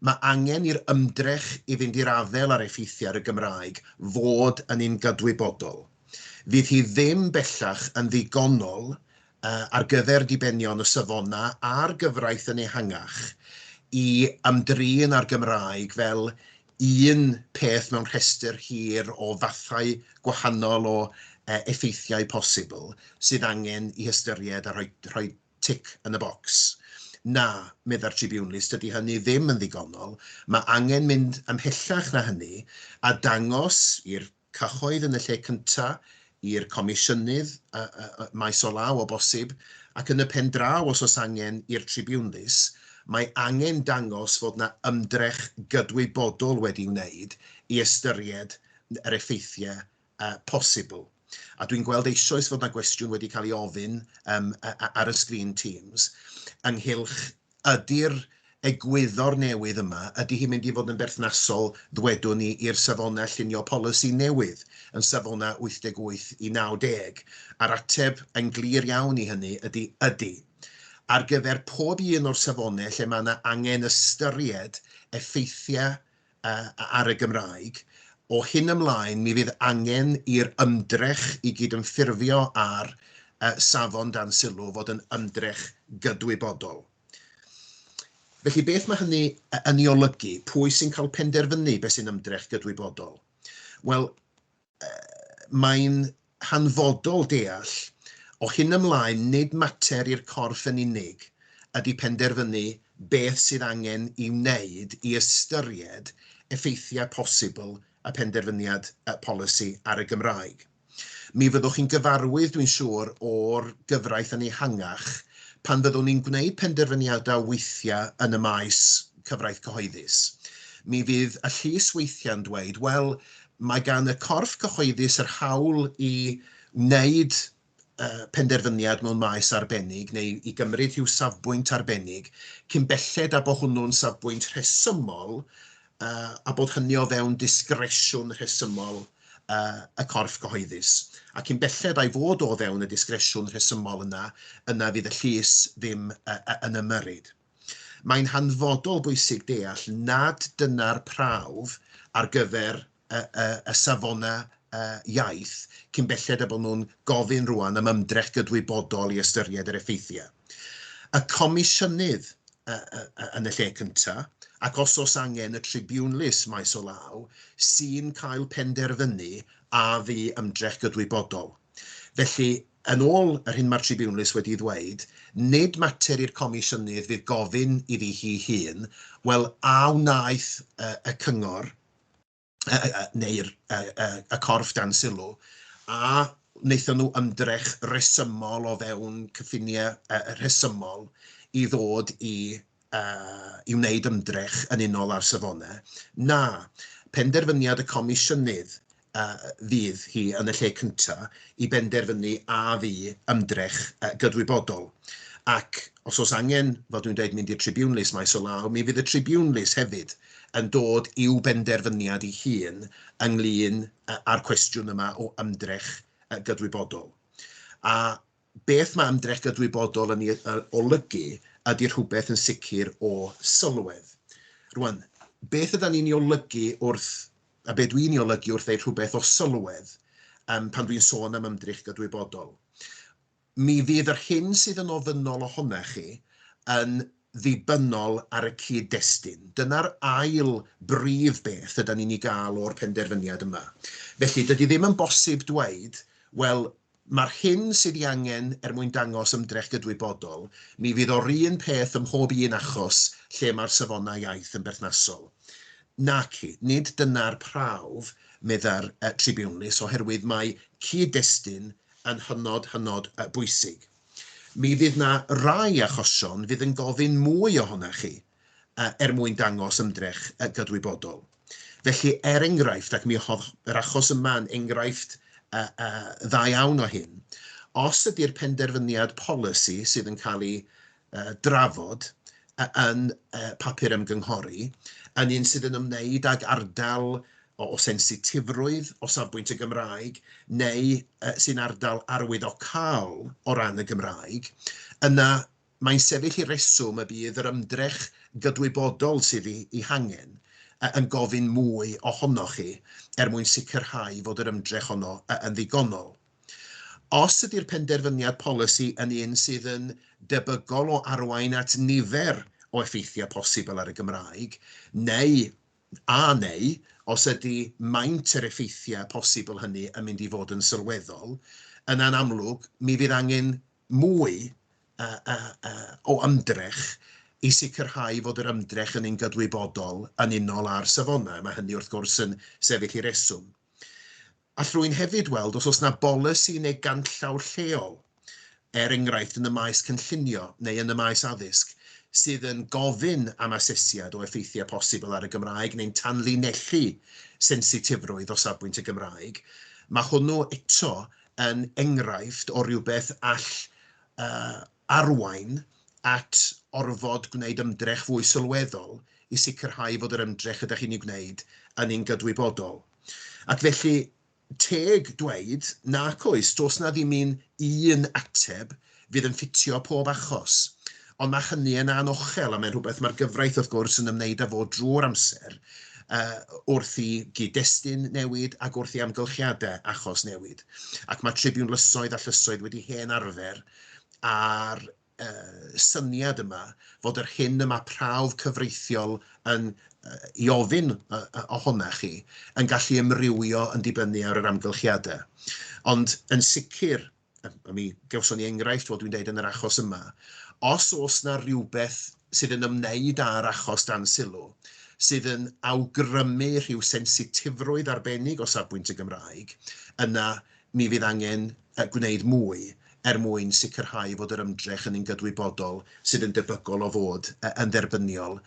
mae angen i'r ymdrech i fynd i'r afael â'r effeithiau ar y Gymraeg fod yn un gydwybodol. Fydd hi ddim bellach yn ddigonol ar gyfer dibenion y safonau a'r gyfraith yn ehangach i ymdrin â'r Gymraeg fel un peth mewn rhestr hir o fathau gwahanol o effeithiau posibl sydd angen ei hystyried a rhoi rhoi tic yn y bocs. Na, meddai'r tribiwnlys, dydy hynny ddim yn ddigonol, mae angen mynd ymhellach na hynny a dangos i'r cyhoedd yn y lle cyntaf, i'r comisiynydd maes o law o bosib, ac yn y pen draw os oes angen, i'r tribiwnlys, mae angen dangos fod yna ymdrech gydwybodol wedi'i wneud i ystyried yr effeithiau posibl. A dwi'n gweld eisoes fod yna gwestiwn wedi cael ei ofyn ar y sgrin Teams ynghylch Ydy'r egwyddor newydd yma, ydy hi'n mynd i fod yn berthnasol, ddwedwn i, i'r safonau llunio polisi newydd yn safonau 88 i 90? A'r ateb, yn glir iawn i hynny, ydy ydy. Ar gyfer pob un o'r safonau lle mae yna angen ystyried effeithiau ar y Gymraeg, o hyn ymlaen mi fydd angen i'r ymdrech i gydymffurfio â'r Safon dan Sylw fod yn ymdrech gydwybodol. Felly, beth mae hynny yn ei olygu? Pwy sy'n cael penderfynu beth sy'n ymdrech gydwybodol? Wel, mae'n hanfodol deall o hyn ymlaen nid mater i'r corff yn unig ydy penderfynu beth sydd angen ei wneud i ystyried effeithiau posibl y penderfyniad polisi ar y Gymraeg. Mi fyddwch chi'n gyfarwydd, dwi'n siŵr, o'r gyfraith yn ehangach pan fyddwn ni'n gwneud penderfyniadau weithiau yn y maes cyfraith cyhoeddus. Mi fydd y llys weithiau'n dweud, wel, Mae gan y corff cyhoeddus yr hawl i wneud penderfyniad mewn maes arbennig neu i gymryd rhyw safbwynt arbennig cyn belled â bo hwnnw'n safbwynt rhesymol a bod hynny o fewn disgresiwn rhesymol y corff cyhoeddus. A cyn belled a'i fod o fewn y disgresiwn rhesymol yna, yna fydd y llys ddim yn ymyrryd. Mae'n hanfodol bwysig deall nad dyna'r prawf ar gyfer y, y, y safonau y, iaith cyn belled a bod nhw'n gofyn rwan am ymdrech gydwybodol i ystyried yr effeithiau. Y Comisiynydd y, y, y, yn y lle cyntaf, ac os os angen y Tribiwnlys maes o law, sy'n cael penderfynu a fu ymdrech gydwybodol. Felly, Yn ôl yr hyn mae'r Tribiwnlys wedi'i ddweud, nid mater i'r Comisiynydd fydd gofyn iddi hi hun, wel, a wnaeth y Cyngor neu'r y corff dan sylw, a wnaethon nhw ymdrech resymol o fewn cyffiniau rhesymol i ddod i i wneud ymdrech yn unol â'r safonau, na, penderfyniad y Comisiynydd fydd hi yn y lle cyntaf i benderfynu a fu ymdrech gydwybodol, ac os oes angen, fel dwi'n dweud, mynd i'r tribiwnlys maes o law, mi fydd y tribiwnlys hefyd yn dod i'w benderfyniad ei hun ynglŷn â'r cwestiwn yma o ymdrech gydwybodol. A Beth mae ymdrech gydwybodol yn ei olygu ydy rhywbeth yn sicr o sylwedd. Rwan, beth yda ni'n ei olygu wrth, a be dwi'n ei olygu wrth ddeud rhywbeth o sylwedd um, pan dwi'n sôn am ymdrech gydwybodol? Mi fydd yr hyn sydd yn ofynnol ohona chi yn ddibynnol ar y cyd-destun. Dyna'r ail brif beth yda ni'n ei gael o'r penderfyniad yma. Felly, dydy ddim yn bosib dweud, wel, Mae'r hyn sydd ei angen er mwyn dangos ymdrech gydwybodol, mi fydd o'r un peth ym mhob un achos lle mae'r safonau iaith yn berthnasol. Naci, nid dyna'r prawf, meddai'r tribiwnlys, oherwydd mae cyd-destun yn hynod, hynod bwysig. Mi fydd 'na rai achosion fydd yn gofyn mwy ohonoch chi. er mwyn dangos ymdrech gydwybodol. Felly, er enghraifft, ac mi oedd yr achos yma yn enghraifft dda iawn o hyn, os ydy'r penderfyniad polisi sydd yn cael ei drafod yn papur ymgynghori yn un sydd yn ymwneud ag ardal o sensitifrwydd o safbwynt y Gymraeg neu sy'n ardal arwyddocaol o ran y Gymraeg, yna Mae'n sefyll i reswm y bydd yr ymdrech gydwybodol sydd ei hangen yn gofyn mwy ohonoch chi er mwyn sicrhau fod yr ymdrech honno yn ddigonol. Os ydy'r penderfyniad polisi yn un sydd yn debygol o arwain at nifer o effeithiau posibl ar y Gymraeg, neu, a neu, os ydy maint yr effeithiau posibl hynny yn mynd i fod yn sylweddol, yna'n amlwg, mi fydd angen mwy o ymdrech i sicrhau fod yr ymdrech yn un gydwybodol yn unol â'r safonau. Mae hynny wrth gwrs yn sefyll i reswm. All rwy'n hefyd weld os oes yna bolisi neu ganllaw lleol, er enghraifft yn y maes cynllunio neu yn y maes addysg, sydd yn gofyn am asesiad o effeithiau posibl ar y Gymraeg neu'n tanlinellu sensitifrwydd o safbwynt y Gymraeg. Mae hwnnw eto yn enghraifft o rywbeth all arwain at orfod gwneud ymdrech fwy sylweddol i sicrhau fod yr ymdrech rydych chi'n ei wneud yn un gydwybodol. Ac felly, teg dweud, nac oes, does 'na ddim un un ateb fydd yn ffitio pob achos. Ond mae hynny yn anochel a mae'n rhywbeth mae'r gyfraith wrth gwrs yn ymwneud â fo drwy'r amser uh, wrth i gyd-destun newid ac wrth i amgylchiadau achos newid. Ac mae tribiwn lysoedd a llysoedd wedi hen arfer a'r uh, syniad yma fod yr hyn y mae prawf cyfreithiol yn uh, i ofyn uh, ohona chi yn gallu ymrywio yn dibynnu ar yr amgylchiadau. Ond yn sicr, a mi gawson ni enghraifft, fel dwi'n deud, yn yr achos yma, os oes na rhywbeth sydd yn ymwneud â'r achos dan sylw, sydd yn awgrymu rhyw sensitifrwydd arbennig o safbwynt y Gymraeg, yna mi fydd angen gwneud mwy er mwyn sicrhau fod yr ymdrech yn un gydwybodol sydd yn debygol o fod yn dderbyniol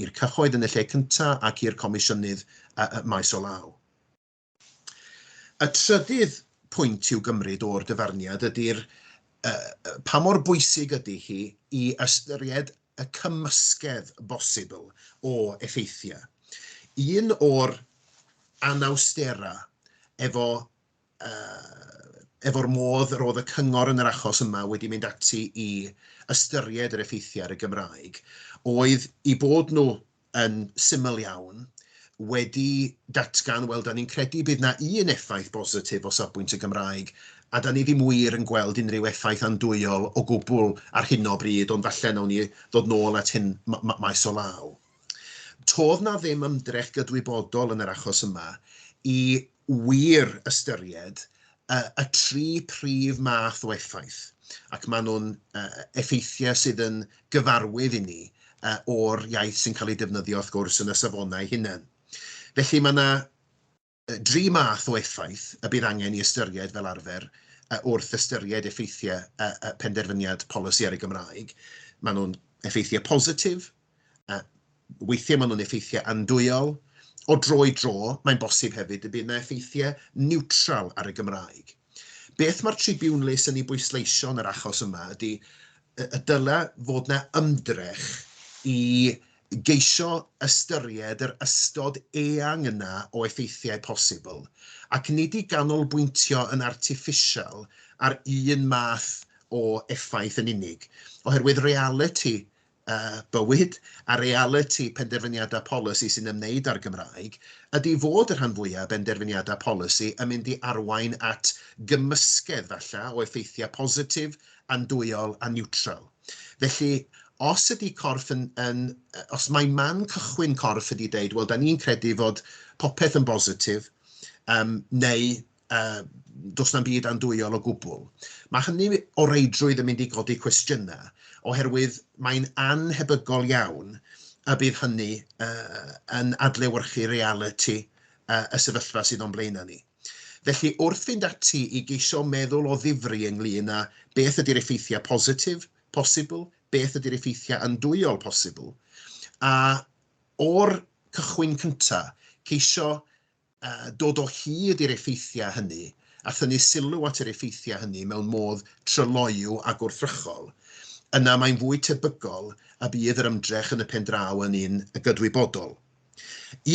i'r cyhoedd yn y lle cyntaf ac i'r Comisiynydd maes o law. Y trydydd pwynt i'w gymryd o'r dyfarniad ydy'r pa mor bwysig ydy hi i ystyried y cymysgedd bosibl o effeithiau. Un o'r anawsterau efo, efo'r modd yr oedd y cyngor yn yr achos yma wedi mynd ati i ystyried yr effeithiau ar y Gymraeg oedd eu bod nhw yn syml iawn, wedi datgan, wel, da ni'n credu bydd na un effaith bositif o safbwynt y Gymraeg, a da ni ddim wir yn gweld unrhyw effaith andwyol o gwbl ar hyn o bryd, ond falle nawn ni ddod nôl at hyn maes o law. Todd na ddim ymdrech gydwybodol yn yr achos yma i wir ystyried y tri prif math o effaith, ac maen nhw'n effeithiau sydd yn gyfarwydd i ni o'r iaith sy'n cael ei defnyddio wrth gwrs yn y safonau hunain. Felly mae yna dri math o effaith y bydd angen i ystyried fel arfer wrth ystyried effeithiau penderfyniad polisi ar y Gymraeg. Maen nhw'n effeithiau positif, Yy, weithiau maen nhw'n effeithiau andwyol. O dro i dro, mae'n bosib hefyd y bydd yna effeithiau niwtral ar y Gymraeg. Beth mae'r Tribune les yn ei bwysleisio yn yr achos yma ydy y y dylai fod yna ymdrech i geisio ystyried yr ystod eang yna o effeithiau posibl, ac nid i ganolbwyntio yn artiffisial ar un math o effaith yn unig, oherwydd realiti bywyd, a realiti penderfyniadau polisi sy'n ymwneud â'r Gymraeg, ydy fod y rhan fwyaf o benderfyniadau polisi yn mynd i arwain at gymysgedd, falle, o effeithiau positif, andwyol a niwtral. Felly, os ydy corff yn, yn, os mae man cychwyn corff ydy deud, wel, da ni'n credu fod popeth yn bositif, um, neu Yy, does na'm byd andwyol o gwbl. Mae hynny o reidrwydd yn mynd i godi cwestiynau, oherwydd mae'n annhebygol iawn y bydd hynny yy yn adlewyrchu realiti yy y sefyllfa sydd o'n blaenau ni. Felly, wrth fynd ati i geisio meddwl o ddifri ynglŷn â beth ydy'r effeithiau positif posibl, beth ydy'r effeithiau andwyol posibl, a o'r cychwyn cyntaf, ceisio dod o hyd i'r effeithiau hynny a thynnu sylw at yr effeithiau hynny mewn modd tryloyw a gwrthrychol, yna mae'n fwy tebygol y bydd yr ymdrech yn y pen draw yn un gydwybodol.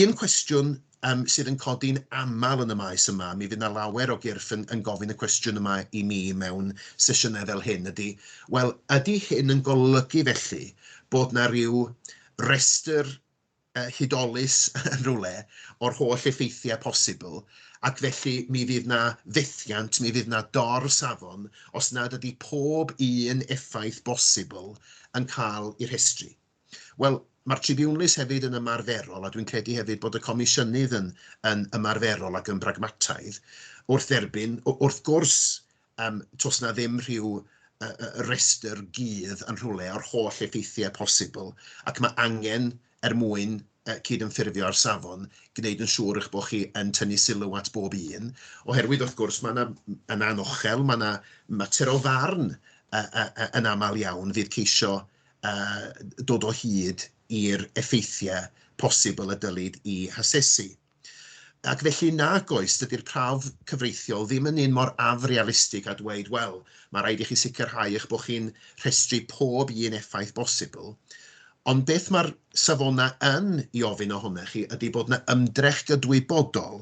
Un cwestiwn um, sydd yn codi'n aml yn y maes yma, mi fydd yna lawer o gyrff yn, yn gofyn y cwestiwn yma i mi mewn sesiynau fel hyn, ydy, wel, ydy hyn yn golygu felly bod yna rhyw restr hudolus yn rhywle o'r holl effeithiau posibl, ac felly mi fydd 'na fethiant, mi fydd 'na dor-safon os nad ydy pob un effaith bosibl yn cael ei rhestru. Wel, mae'r tribiwnlys hefyd yn ymarferol, a dwi'n credu hefyd bod y Comisiynydd yn ymarferol ac yn bragmataidd wrth dderbyn, wrth gwrs, um, tos na ddim rhyw uh, restr gydd yn rhywle o'r holl effeithiau posibl, ac mae angen er mwyn uh, cydymffurfio â'r safon, gwneud yn siŵr eich bod chi yn tynnu sylw at bob un, oherwydd wrth gwrs mae yna yn anochel, mae yna mater o farn uh, uh, uh, yn aml iawn fydd ceisio uh, dod o hyd i'r effeithiau posibl y dylid i hasesu. Ac felly nag oes, dydy'r prawf cyfreithiol ddim yn un mor afrealistig â dweud, wel, mae rhaid i chi sicrhau eich bod chi'n rhestru pob un effaith bosibl, ond beth mae'r safonau yn i ofyn ohonoch chi ydy bod yna ymdrech gydwybodol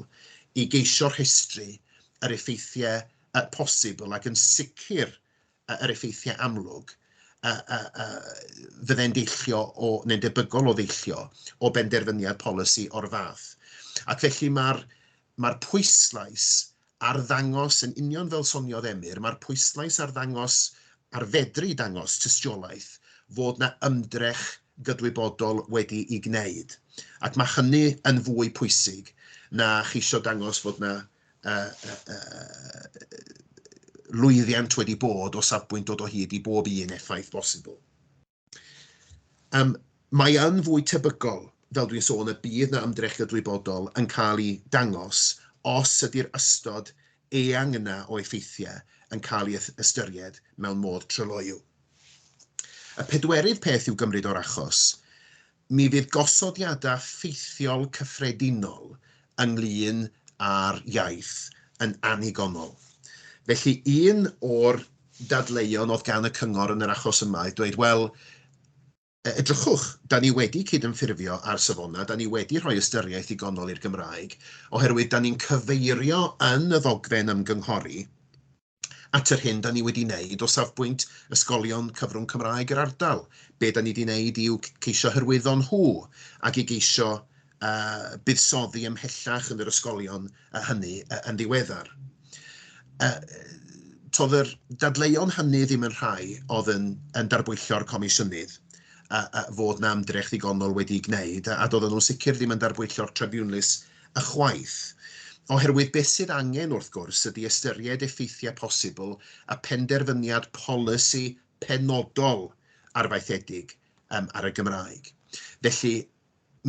i geisio rhestru yr effeithiau posibl ac yn sicr yr effeithiau amlwg a, a, a fydde'n deillio o, neu'n debygol o ddeillio o benderfyniad polisi o'r fath. Ac felly mae'r mae pwyslais ar ddangos, yn union fel soniodd Emyr, mae'r pwyslais ar ddangos, ar fedru dangos tystiolaeth fod yna ymdrech gydwybodol wedi ei gwneud. Ac mae hynny yn fwy pwysig na cheisio dangos fod yna lwyddiant wedi bod o safbwynt dod o hyd i bob un effaith bosibl. Um, mae yn fwy tebygol, fel dwi'n sôn, y bydd na ymdrech gydwybodol yn cael ei dangos os ydy'r ystod eang yna o effeithiau yn cael ei ystyried mewn modd tryloyw. Y pedwerydd peth i'w gymryd o'r achos Mi fydd gosodiadau ffeithiol cyffredinol ynglŷn â'r iaith yn annigonol. Felly, un o'r dadleuon oedd gan y cyngor yn yr achos yma oedd dweud, wel, edrychwch, da ni wedi cydymffurfio â'r safonau, da ni wedi rhoi ystyriaeth ddigonol i'r Gymraeg, oherwydd da ni'n cyfeirio yn y ddogfen ymgynghori at yr hyn da ni wedi wneud o safbwynt ysgolion cyfrwng Cymraeg yr ardal. Be da ni wedi wneud yw ceisio hyrwyddo nhw ac i geisio uh, buddsoddi ymhellach yn yr ysgolion uh, hynny uh, yn ddiweddar. Uh, todd yr dadleuon hynny ddim yn rhai oedd yn, yn darbwyllio'r comisiynydd a, a fod na ymdrech ddigonol wedi'i gwneud, a, a doedden nhw'n sicr ddim yn darbwyllio'r tribiwnlys Ychwaith. Oherwydd beth sydd angen, wrth gwrs, ydy ystyried effeithiau posibl a phenderfyniad polisi penodol arfaethedig ar y Gymraeg. Felly,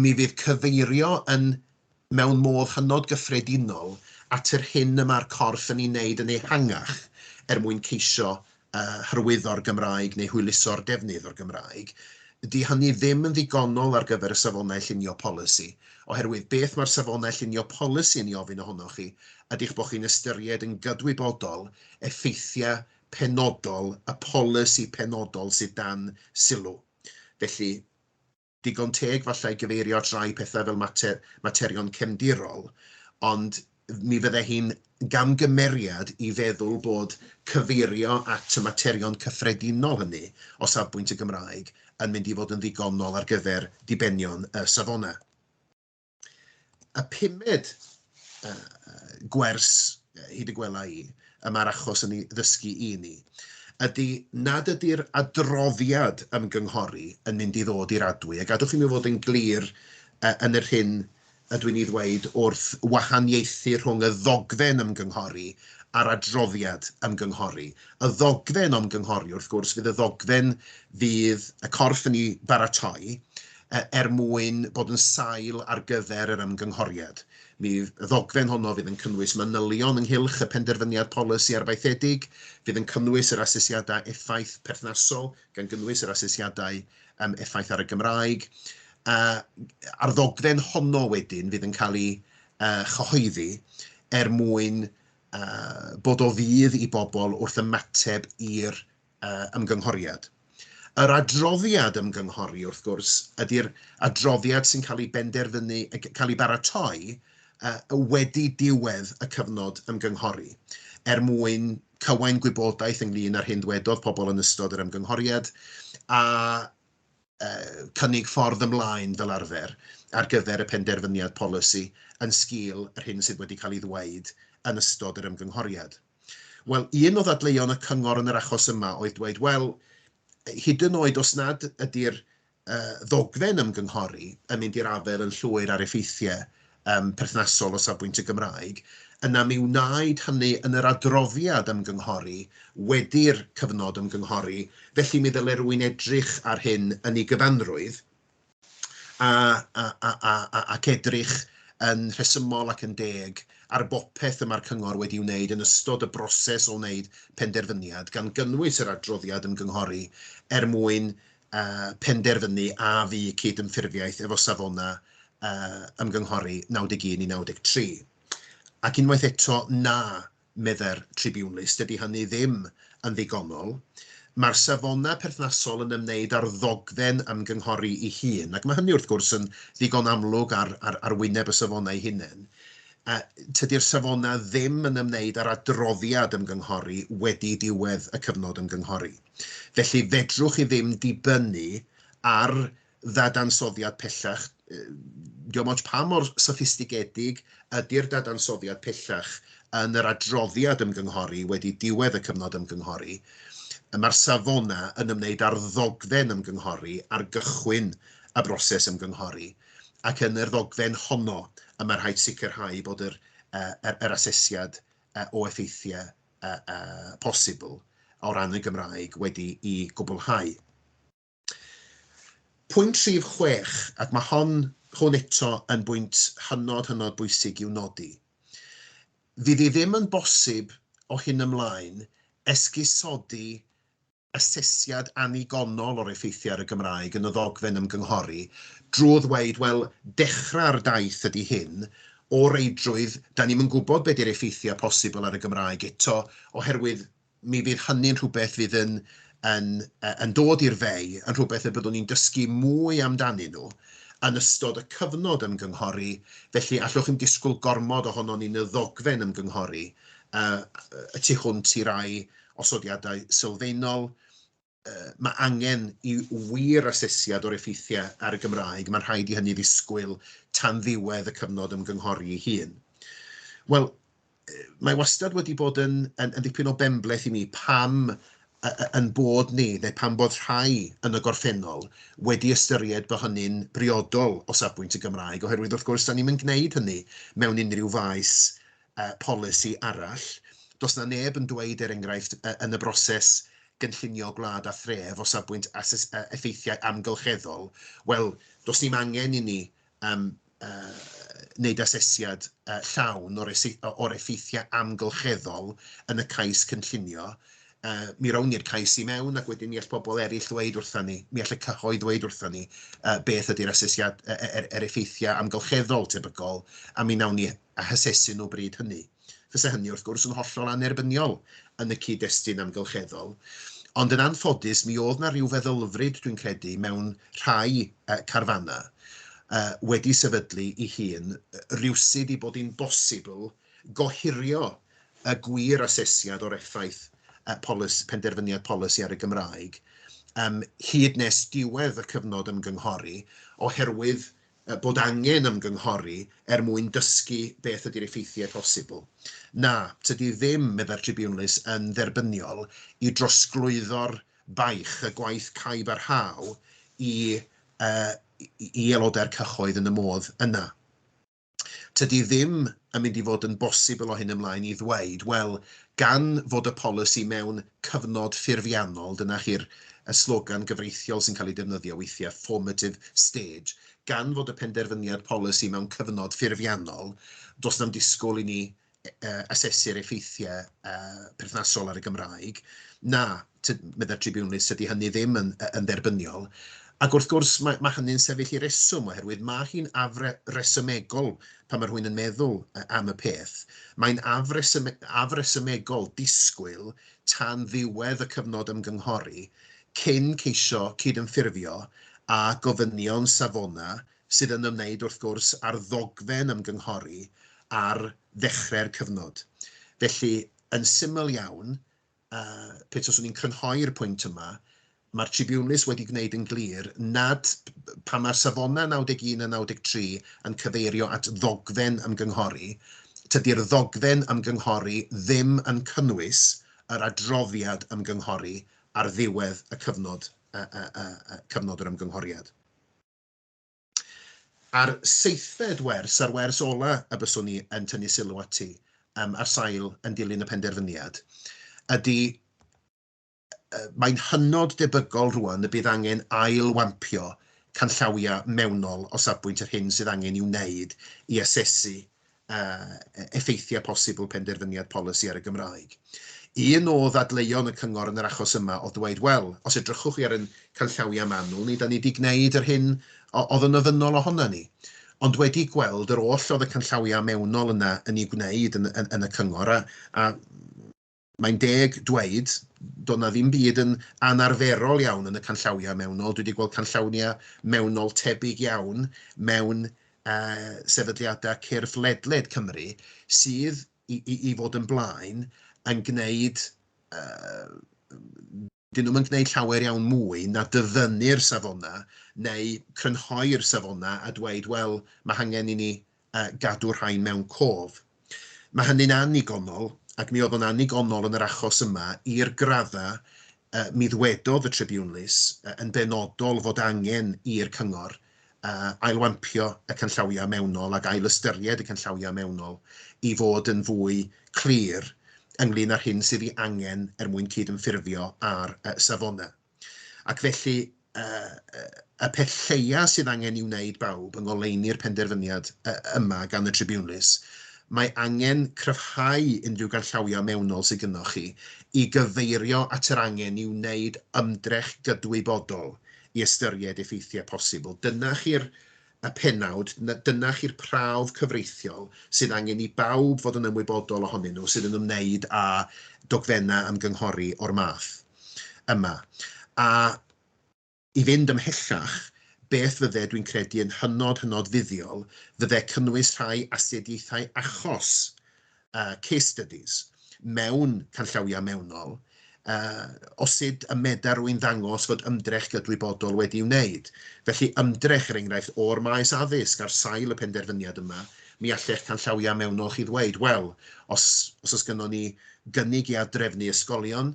mi fydd cyfeirio yn, mewn modd hynod gyffredinol, at yr hyn y mae'r corff yn ei wneud yn ehangach er mwyn ceisio hyrwyddo'r Gymraeg neu hwyluso'r defnydd o'r Gymraeg, 'di hynny ddim yn ddigonol ar gyfer y Safonau Llunio Polisi, oherwydd beth mae'r Safonau Llunio Polisi yn ei ofyn ohonoch chi ydi'ch bod chi'n ystyried yn gydwybodol effeithiau penodol y polisi penodol sydd dan sylw. Felly, digon teg falle i gyfeirio at rai pethau fel mater, materion cefndirol, ond mi fydde hi'n gamgymeriad i feddwl bod cyfeirio at y materion cyffredinol hynny o safbwynt y Gymraeg yn mynd i fod yn ddigonol ar gyfer dibenion y safonau. y pumed uh, gwers hyd y gwela i, y mae'r achos yn ei ddysgu i ni, ydy nad ydy'r adroddiad ymgynghori yn mynd i ddod i'r adwy. A gadwch i mi fod yn glir uh, yn yr hyn ydw i'n ei ddweud wrth wahaniaethu rhwng y ddogfen ymgynghori a'r adroddiad ymgynghori. Y ddogfen ymgynghori, wrth gwrs, fydd y ddogfen fydd y corff yn ei baratoi, er mwyn bod yn sail ar gyfer yr ymgynghoriad. Mi y ddogfen honno fydd yn cynnwys manylion ynghylch y penderfyniad polisi arfaethedig, fydd yn cynnwys yr asesiadau effaith perthnasol, gan gynnwys yr asesiadau um, effaith ar y Gymraeg. Uh, a'r ddogfen honno wedyn fydd yn cael ei uh, chyhoeddi er mwyn uh, bod o fydd i bobl wrth ymateb i'r ymgynghoriad. Yr adroddiad ymgynghori, wrth gwrs, ydy'r adroddiad sy'n cael ei benderfynu, cael ei baratoi wedi diwedd y cyfnod ymgynghori, er mwyn cywain gwybodaeth ynglŷn â'r hyn ddwedodd pobl yn ystod yr ymgynghoriad a cynnig ffordd ymlaen fel arfer ar gyfer y penderfyniad polisi yn sgil yr hyn sydd wedi cael ei ddweud yn ystod yr ymgynghoriad. Wel, un o ddadleuon y cyngor yn yr achos yma oedd dweud, wel, hyd yn oed os nad ydy'r uh, ddogfen ymgynghori yn mynd i'r afael yn llwyr ar effeithiau um, perthnasol o safbwynt y Gymraeg, yna mi wnaed hynny yn yr adroddiad ymgynghori wedi'r cyfnod ymgynghori, felly mi ddyle rwy'n edrych ar hyn yn ei gyfanrwydd, a, a, a, a, a, ac edrych yn rhesymol ac yn deg ar bopeth y mae'r Cyngor wedi'i wneud yn ystod y broses o wneud penderfyniad, gan gynnwys yr adroddiad ymgynghori, er mwyn uh, penderfynu a fu cyd-ymffurfiaeth efo safonau uh, ymgynghori 91 i 93. Ac unwaith eto, na, meddai'r Tribiwnlys, dydy hynny ddim yn ddigonol. Mae'r safonau perthnasol yn ymwneud â'r ddogfen ymgynghori ei hun, ac mae hynny wrth gwrs yn ddigon amlwg ar, ar, ar wyneb y safonau hunain. A tydy'r safonau ddim yn ymwneud â'r adroddiad ymgynghori wedi diwedd y cyfnod ymgynghori. Felly, fedrwch chi ddim dibynnu ar ddadansoddiad pellach, diolch ots pa mor soffistigedig ydy'r dadansoddiad pellach yn yr adroddiad ymgynghori wedi diwedd y cyfnod ymgynghori, mae'r safonau yn ymwneud â'r ddogfen ymgynghori ar gychwyn y broses ymgynghori, ac yn yr ddogfen honno y mae rhaid sicrhau bod yr, yr, yr asesiad o effeithiau posibl o ran y Gymraeg wedi i gwblhau. Pwynt rhif chwech, ac mae hon, hwn eto yn bwynt hynod, hynod bwysig i'w nodi. Fydd i ddim yn bosib o hyn ymlaen esgusodi asesiad annigonol o'r effeithiau ar y Gymraeg yn y ddogfen ymgynghori drwy ddweud, wel, dechrau'r daith ydy hyn, o reidrwydd, 'da ni'm yn gwybod be 'di'r effeithiau posibl ar y Gymraeg eto, oherwydd mi fydd hynny'n rhywbeth fydd yn yn yn dod i'r fei, yn rhywbeth y byddwn ni'n dysgu mwy amdanyn nhw yn ystod y cyfnod ymgynghori, felly allwch ddim disgwyl gormod ohonon ni yn y ddogfen ymgynghori y tu hwnt i rai osodiadau sylfaenol, mae angen i wir asesiad o'r effeithiau ar y Gymraeg, mae'n rhaid i hynny ddisgwyl tan ddiwedd y cyfnod ymgynghori ei hun. Wel, mae wastad wedi bod yn, yn, yn dipyn o benbleth i mi pam yn bod ni, neu pam bod rhai yn y gorffennol, wedi ystyried bod hynny'n briodol o safbwynt y Gymraeg, oherwydd wrth gwrs, da ni'n mynd gwneud hynny mewn unrhyw faes uh, polisi arall. Does na neb yn dweud, er enghraifft, uh, yn y broses gynllunio gwlad a thref o safbwynt ases, uh, effeithiau amgylcheddol, wel, does ni'n angen i ni um, uh, wneud asesiad uh, llawn o'r, or effeithiau amgylcheddol yn y cais cynllunio, uh, mi rown ni'r cais i mewn ac wedyn mi all pobl eraill ddweud wrthyn ni, mi all y cyhoedd ddweud wrthyn ni uh, beth ydy'r asesiad er, er, er effeithiau amgylcheddol tebygol a mi nawn ni a hasesu nhw bryd hynny. Fysa hynny, wrth gwrs, yn hollol annerbyniol yn y cyd-destun amgylcheddol, ond yn anffodus mi oedd 'na ryw feddylfryd, dwi'n credu, mewn rhai carfannau wedi sefydlu ei hun rywsut ei bod hi'n bosibl gohirio y gwir asesiad o'r effaith penderfyniad polisi ar y Gymraeg hyd nes diwedd y cyfnod ymgynghori oherwydd bod angen ymgynghori er mwyn dysgu beth ydy'r effeithiau posibl. Na, tydi ddim, meddai'r Tribiwnlys, yn dderbyniol i drosglwyddo'r baich, y gwaith caib a rhaw, i i aelodau'r cyhoedd yn y modd yna. Tydi ddim yn mynd i fod yn bosibl o hyn ymlaen i ddweud, wel, gan fod y polisi mewn cyfnod ffurfiannol, dyna chi'r y slogan gyfreithiol sy'n cael ei defnyddio weithiau, formative stage. Gan fod y penderfyniad polisi mewn cyfnod ffurfiannol, does na'm disgwyl i ni uh, asesu'r effeithiau uh, perthnasol ar y Gymraeg. Na, meddai'r tribiwnlys, ydy hynny ddim yn, yn dderbyniol. Ac wrth gwrs, mae, mae hynny'n sefyll i reswm, oherwydd mae hi'n afre resymegol pan mae rhywun yn meddwl am y peth, mae'n afresymegol disgwyl tan ddiwedd y cyfnod ymgynghori cyn ceisio cydymffurfio â gofynion Savona sydd yn ymwneud wrth gwrs â'r ddogfen ymgynghori ar ddechrau'r cyfnod. Felly, yn syml iawn, uh, pe taswn i'n crynhoi'r pwynt yma, mae'r tribiwnlys wedi gwneud yn glir nad pa mae'r safonau 91 a 93 yn cyfeirio at ddogfen ymgynghori, tydi'r ddogfen ymgynghori ddim yn cynnwys yr adroddiad ymgynghori ar ddiwedd y cyfnod, uh, uh, uh, cyfnod yr ymgynghoriad. a'r seithfed wers a'r wers ola y byswn i yn tynnu sylw ati yym ar sail yn dilyn y penderfyniad ydi mae'n hynod debygol rŵan y bydd angen ail-wampio canllawiau mewnol o safbwynt yr hyn sydd angen i'w wneud i asesu effeithiau posibl penderfyniad polisi ar y Gymraeg. Un o ddadleuon y Cyngor yn yr achos yma oedd dweud, wel, os edrychwch chi ar ein canllawiau manwl ni, 'da ni 'di gwneud yr hyn oedd yn ofynnol ohonan ni. Ond wedi gweld yr oll oedd y canllawiau mewnol yna yn ei wneud yn y Cyngor, a mae'n deg dweud, doedd na ddim byd yn anarferol iawn yn y canllawiau mewnol. Dwi wedi gweld canllawiau mewnol tebyg iawn mewn uh, sefydliadau cyrff ledled Cymru sydd i, i, i fod yn blaen yn gwneud uh, 'dyn nhw'm yn gwneud llawer iawn mwy na dyfynnu'r safonau neu crynhoi'r safonau a dweud 'wel, mae hangen i ni gadw'r rhain mewn cof'. Mae hynny'n annigonol, ac mi oedd o'n annigonol yn yr achos yma i'r graddau mi ddwedodd y tribiwnlys yn benodol fod angen i'r cyngor ailwampio y canllawiau mewnol ac ail-ystyried y canllawiau mewnol i fod yn fwy clir ynglŷn â'r hyn sydd ei angen er mwyn cydymffurfio â'r safonau. Ac felly, y peth lleiaf sydd angen ei wneud, bawb, yng ngoleuni'r penderfyniad yma gan y tribiwnlys, mae angen cryfhau unrhyw ganllawiau mewnol sydd gynnoch chi i gyfeirio at yr angen i wneud ymdrech gydwybodol i ystyried effeithiau posibl. Dyna chi'r y pennawd, dyna chi'r prawf cyfreithiol sydd angen i bawb fod yn ymwybodol ohonyn nhw sydd yn ymwneud â dogfennau ymgynghori o'r math yma. A i fynd ymhellach, beth fydde, dwi'n credu, yn hynod, hynod fuddiol, fydde cynnwys rhai asiediaethau achos uh, case studies mewn canllawiau mewnol, uh, o sut y medar rwy'n ddangos fod ymdrech gydwybodol wedi wneud. Felly ymdrech, er enghraifft, o'r maes addysg ar sail y penderfyniad yma, mi allech canllawiau mewnol chi ddweud, wel, os, os oes gynnon ni gynnig i adrefnu ysgolion,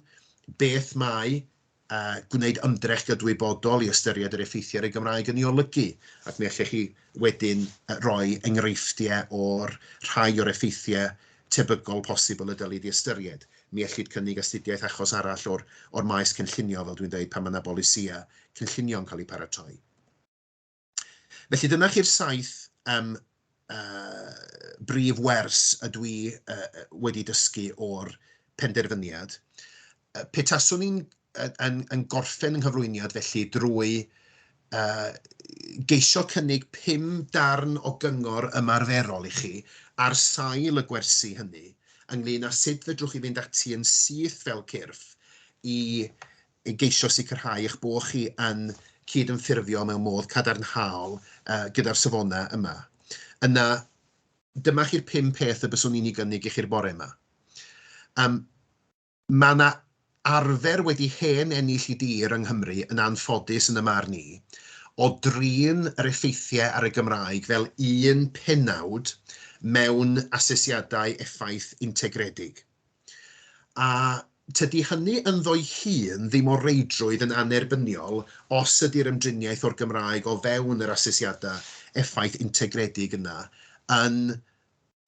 beth mae a gwneud ymdrech gydwybodol i ystyried yr effeithiau ar y Gymraeg yn ei olygu, ac mi allech chi wedyn roi enghreifftiau o'r rhai o'r effeithiau tebygol posibl y dylid ei ystyried. Mi ellid cynnig astudiaeth achos arall o'r o'r maes cynllunio, fel dwi'n dweud, pan mae yna bolisïau cynllunio'n cael eu paratoi. Felly dyna chi'r saith um, uh, brif wers y dwi uh, wedi dysgu o'r penderfyniad. Uh, pe taswn i'n yn, yn gorffen yng nghyflwyniad felly drwy uh, geisio cynnig pum darn o gyngor ymarferol i chi ar sail y gwersi hynny ynglyn â sut fedrwch chi fynd ati yn syth fel cyrff i i geisio sicrhau eich bod chi yn cydymffurfio mewn modd cadarnhaol gyda'r safonau yma. Yna, dyma chi'r pum peth y byswn i'n ei gynnig i chi'r bore yma. Um, mae yna arfer wedi hen ennill i dir yng Nghymru yn anffodus yn y mar ni, o drin yr effeithiau ar y Gymraeg fel un penawd mewn asesiadau effaith integredig. A tydi hynny ynddo'i hun ddim o reidrwydd yn annerbyniol os ydi'r ymdriniaeth o'r Gymraeg o fewn yr asesiadau effaith integredig yna yn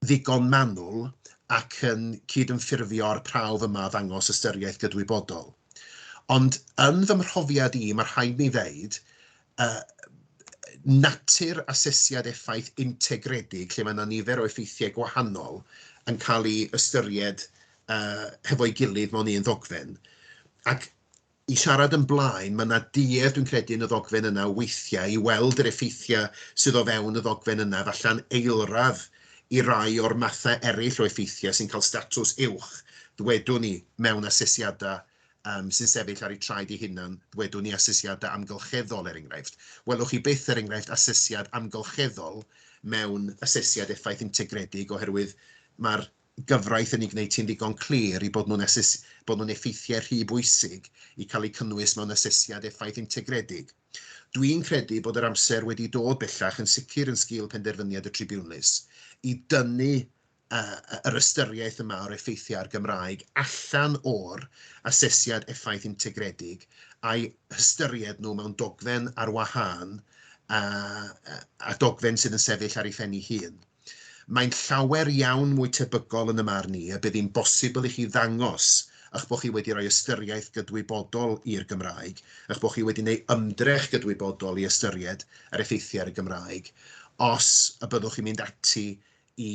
ddigon manwl ac yn cydymffurfio â'r prawf yma o ddangos ystyriaeth gydwybodol. Ond yn fy mhrofiad i, mae rhaid mi ddeud, yy natur asesiad effaith integredig lle mae 'na nifer o effeithiau gwahanol yn cael eu ystyried yy hefo'i gilydd mewn un ddogfen ac i siarad yn blaen, mae 'na duedd dwi'n credu yn y ddogfen yna weithiau i weld yr effeithiau sydd o fewn y ddogfen yna falle'n eilradd i rai o'r mathau eraill o effeithiau sy'n cael statws uwch, ddwedwn ni, mewn asesiadau yym, sy'n sefyll ar eu traed eu hunain, ddwedwn ni, asesiadau amgylcheddol, er enghraifft. Welwch chi byth, er enghraifft, asesiad amgylcheddol mewn asesiad effaith integredig oherwydd mae'r gyfraith yn ei gwneud hi'n ddigon clir i bod nhw'n ases- bod nhw'n effeithiau rhy bwysig i cael eu cynnwys mewn asesiad effaith integredig. Dwi'n credu bod yr amser wedi dod bellach yn sicr yn sgil penderfyniad y tribiwnlys i dynnu yr ystyriaeth yma o'r effeithiau ar Gymraeg allan o'r asesiad effaith integredig a'i hystyried nhw mewn dogfen ar wahân a dogfen sydd yn sefyll ar ei phen ei hun. Mae'n llawer iawn mwy tebygol yn y marn i y bydd hi'n bosibl i chi ddangos eich bod chi wedi rhoi ystyriaeth gydwybodol i'r Gymraeg, eich bod chi wedi neu ymdrech gydwybodol i ystyried yr effeithiau ar y Gymraeg, os y byddwch chi'n mynd ati i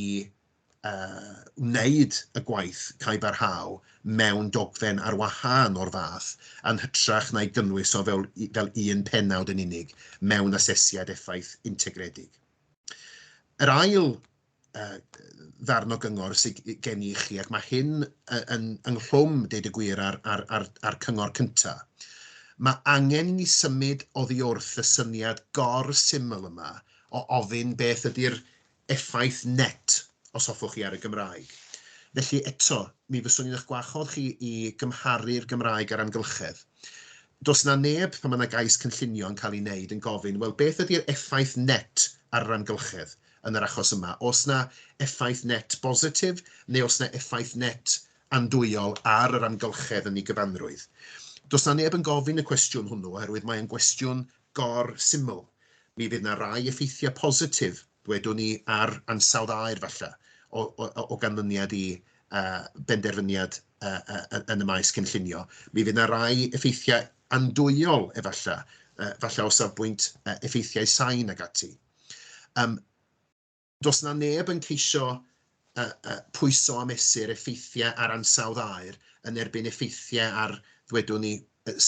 wneud y gwaith cae barhaol mewn dogfen ar wahân o'r fath, yn hytrach na'i gynnwys o fel un pennawd yn unig mewn asesiad effaith integredig. Yr ail ddarn o gyngor sy gen i i chi, ac mae hyn ynghlwm, deud y gwir, â'r cyngor cyntaf, mae angen i ni symud oddiwrth y syniad gor-syml yma o ofyn beth ydy'r effaith net os hoffwch chi ar y Gymraeg. Felly eto, mi fyswn i'n eich gwahodd chi i gymharu'r Gymraeg a'r amgylchedd. Does 'na neb, pan mae 'na gais cynllunio yn cael ei wneud, yn gofyn, wel, beth ydi'r effaith net ar yr amgylchedd yn yr achos yma? Oes 'na effaith net bositif neu oes 'na effaith net andwyol ar yr amgylchedd yn ei gyfanrwydd? Does 'na neb yn gofyn y cwestiwn hwnnw oherwydd mae o'n gwestiwn gor-syml, mi fydd 'na rai effeithiau positif, ddwedwn i, ar ansawdd aer falle, o, o, o ganlyniad i uh, benderfyniad uh, uh, yn y maes cynllunio. Mi fydd yna rai effeithiau andwyol efallai, uh, falle o safbwynt uh, effeithiau sain ag ati. Um, Does 'na neb yn ceisio pwyso a mesur effeithiau ar ansawdd aer yn erbyn effeithiau ar, ddwedwn ni,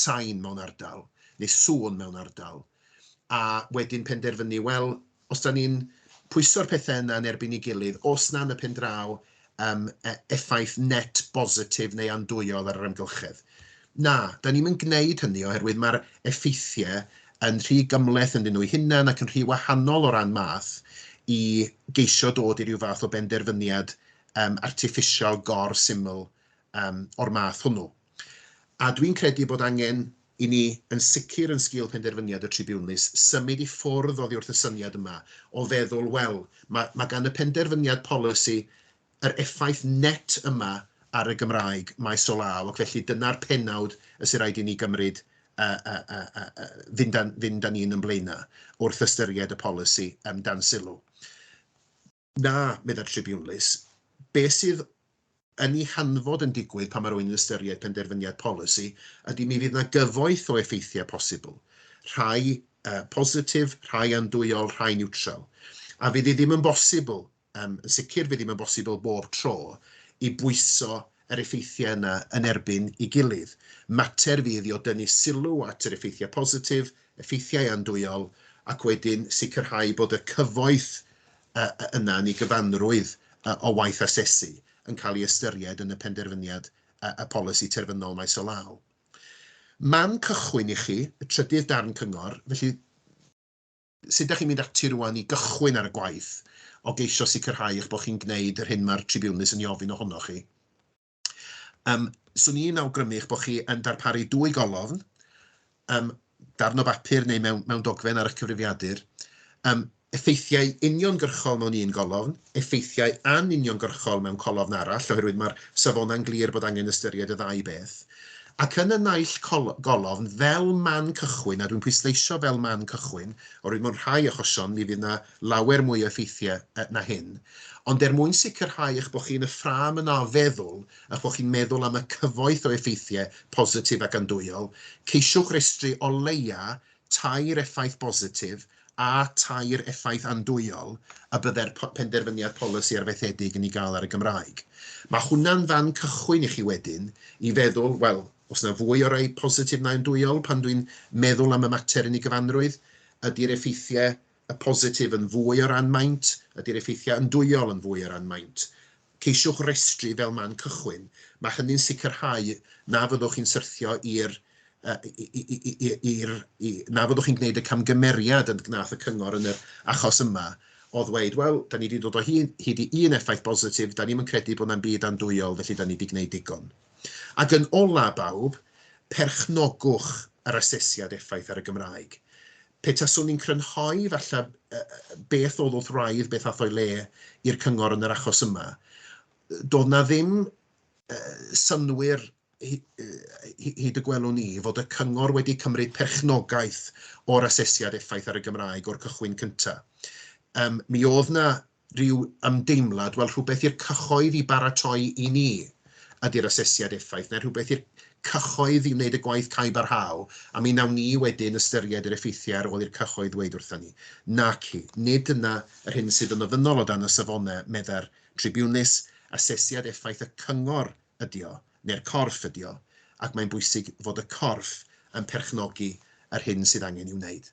sain mewn ardal, neu sŵn mewn ardal, a wedyn penderfynu, wel, os 'da ni'n pwyso'r pethau yna yn erbyn ei gilydd, os na yn y pen draw, um, e, effaith net bositif neu andwyol ar yr amgylchedd. Na, da ni'n mynd gwneud hynny oherwydd mae'r effeithiau yn rhy gymleth yn nhw'n hunan ac yn rhy wahanol o ran math i geisio dod i ryw fath o benderfyniad um, artiffisial gor syml um, o'r math hwnnw. A dwi'n credu bod angen i ni, yn sicr yn sgil penderfyniad y tribiwnlys, symud i ffwrdd oddi wrth y syniad yma o feddwl, wel, mae, mae gan y penderfyniad polisi yr effaith net yma ar y Gymraeg maes o law, ac felly dyna'r pennawd y sy'n rhaid i ni gymryd a, a, a, a, a fynd, a, fynd â ni'n yn blaenau wrth ystyried y polisi um, dan sylw. Na, meddai'r tribiwnlys, be sydd yn ei hanfod yn digwydd pan mae rhywun yn ystyried penderfyniad polisi ydy mi fydd 'na gyfoeth o effeithiau posibl, rhai positif, rhai andwyol, rhai niwtral. A fydd hi ddim yn bosibl, yn sicr fydd ddim yn bosibl bob tro, i bwyso yr effeithiau yna yn erbyn ei gilydd. Mater fydd i o dynnu sylw at yr effeithiau positif, effeithiau andwyol, ac wedyn sicrhau bod y cyfoeth yna yn ei gyfanrwydd o waith asesu yn cael ei ystyried yn y penderfyniad y polisi terfynol maes o law. Man cychwyn i chi, y trydydd darn cyngor, felly, Sut dach chi'n mynd ati rŵan i gychwyn ar y gwaith o geisio sicrhau eich bod chi'n gwneud yr hyn mae'r tribiwnlys yn ei ofyn ohonoch chi? Yym, 'swn i'n awgrymu eich bod chi yn darparu dwy golofn, yym, darn o bapur neu mewn mewn dogfen ar eich cyfrifiadur, yym, effeithiau uniongyrchol mewn un golofn, effeithiau anuniongyrchol mewn colofn arall, oherwydd mae'r safonau'n glir bod angen ystyried y ddau beth, ac yn y naill golofn fel man cychwyn, a dwi'n pwysleisio fel man cychwyn, oherwydd mewn rhai achosion mi fydd yna lawer mwy o effeithiau na hyn, ond er mwyn sicrhau eich bod chi yn y ffrâm yna o feddwl, eich bod chi'n meddwl am y cyfoeth o effeithiau positif ac andwyol, ceisiwch restru o leia' tair effaith bositif a tair effaith andwyol y byddai'r penderfyniad polisi arfaethedig yn ei gael ar y Gymraeg. Mae hwnna'n fan cychwyn i chi wedyn i feddwl, wel, oes yna fwy o rai positif na andwyol pan dwi'n meddwl am y mater yn ei gyfanrwydd? Ydy'r effeithiau positif yn fwy o ran maint? Ydy'r effeithiau andwyol yn fwy o ran maint? Ceisiwch restru fel man cychwyn, mae hynny'n sicrhau na fyddwch chi'n syrthio i'r na fyddwch chi'n gwneud y camgymeriad y gwnaeth y cyngor yn yr achos yma o ddweud, wel, da ni wedi dod o hyd i un effaith bositif, da ni'm yn credu bod 'na'm byd andwyol, felly da ni wedi gwneud digon. Ac yn ola', bawb, perchnogwch yr asesiad effaith ar y Gymraeg. Pe taswn i'n crynhoi, falle, beth oedd wrth wraidd, beth ath o'i le i'r cyngor yn yr achos yma, doedd 'na ddim synnwyr, hyd y gwelwn i, fod y cyngor wedi cymryd perchnogaeth o'r asesiad effaith ar y Gymraeg o'r cychwyn cyntaf. Mi oedd 'na rhyw ymdeimlad, wel, rhywbeth i'r cyhoedd i baratoi i ni ydy'r asesiad effaith, neu rhywbeth i'r cyhoedd i wneud y gwaith cau barhau, a mi wnawn ni wedyn ystyried yr effeithiau ar ôl i'r cyhoedd ddweud wrthon ni. Naci, nid dyna yr hyn sydd yn ofynnol o dan y safonau, meddai'r tribiwnlys, asesiad effaith y cyngor ydy o, neu'r corff ydy o, ac mae'n bwysig fod y corff yn perchnogi yr hyn sydd angen i'w wneud.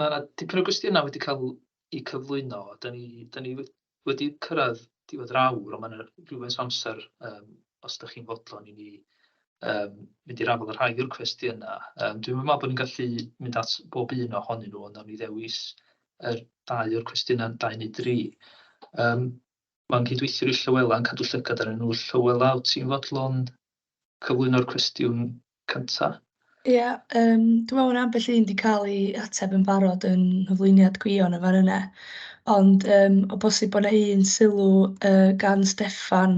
Mae 'na dipyn o gwestiynau wedi cael eu cyflwyno. Dan ni, dan ni wedi cyrraedd diwedd yr awr, ond mae 'na rywfaint o amser yym os dach chi'n fodlon i ni yym mynd i'r afael â rhai o'r cwestiynau. Yym dwi'm yn meddwl bod ni'n gallu mynd at bob un ohonyn nhw, ond wnawn ni ddewis yr dau o'r cwestiynau, dau neu dri. Yym mae'n cydweithio i Llywela yn cadw llygad arnyn nhw. Llywela, wyt ti'n fodlon cyflwyno'r cwestiwn cynta. Ia, yym, dwi me'wl ma' ambell un 'di ca'l 'i ateb yn barod yn nghyflwyniad Gwion yn fan yne ond yym o bosib bo' 'na un sylw yy gan Steffan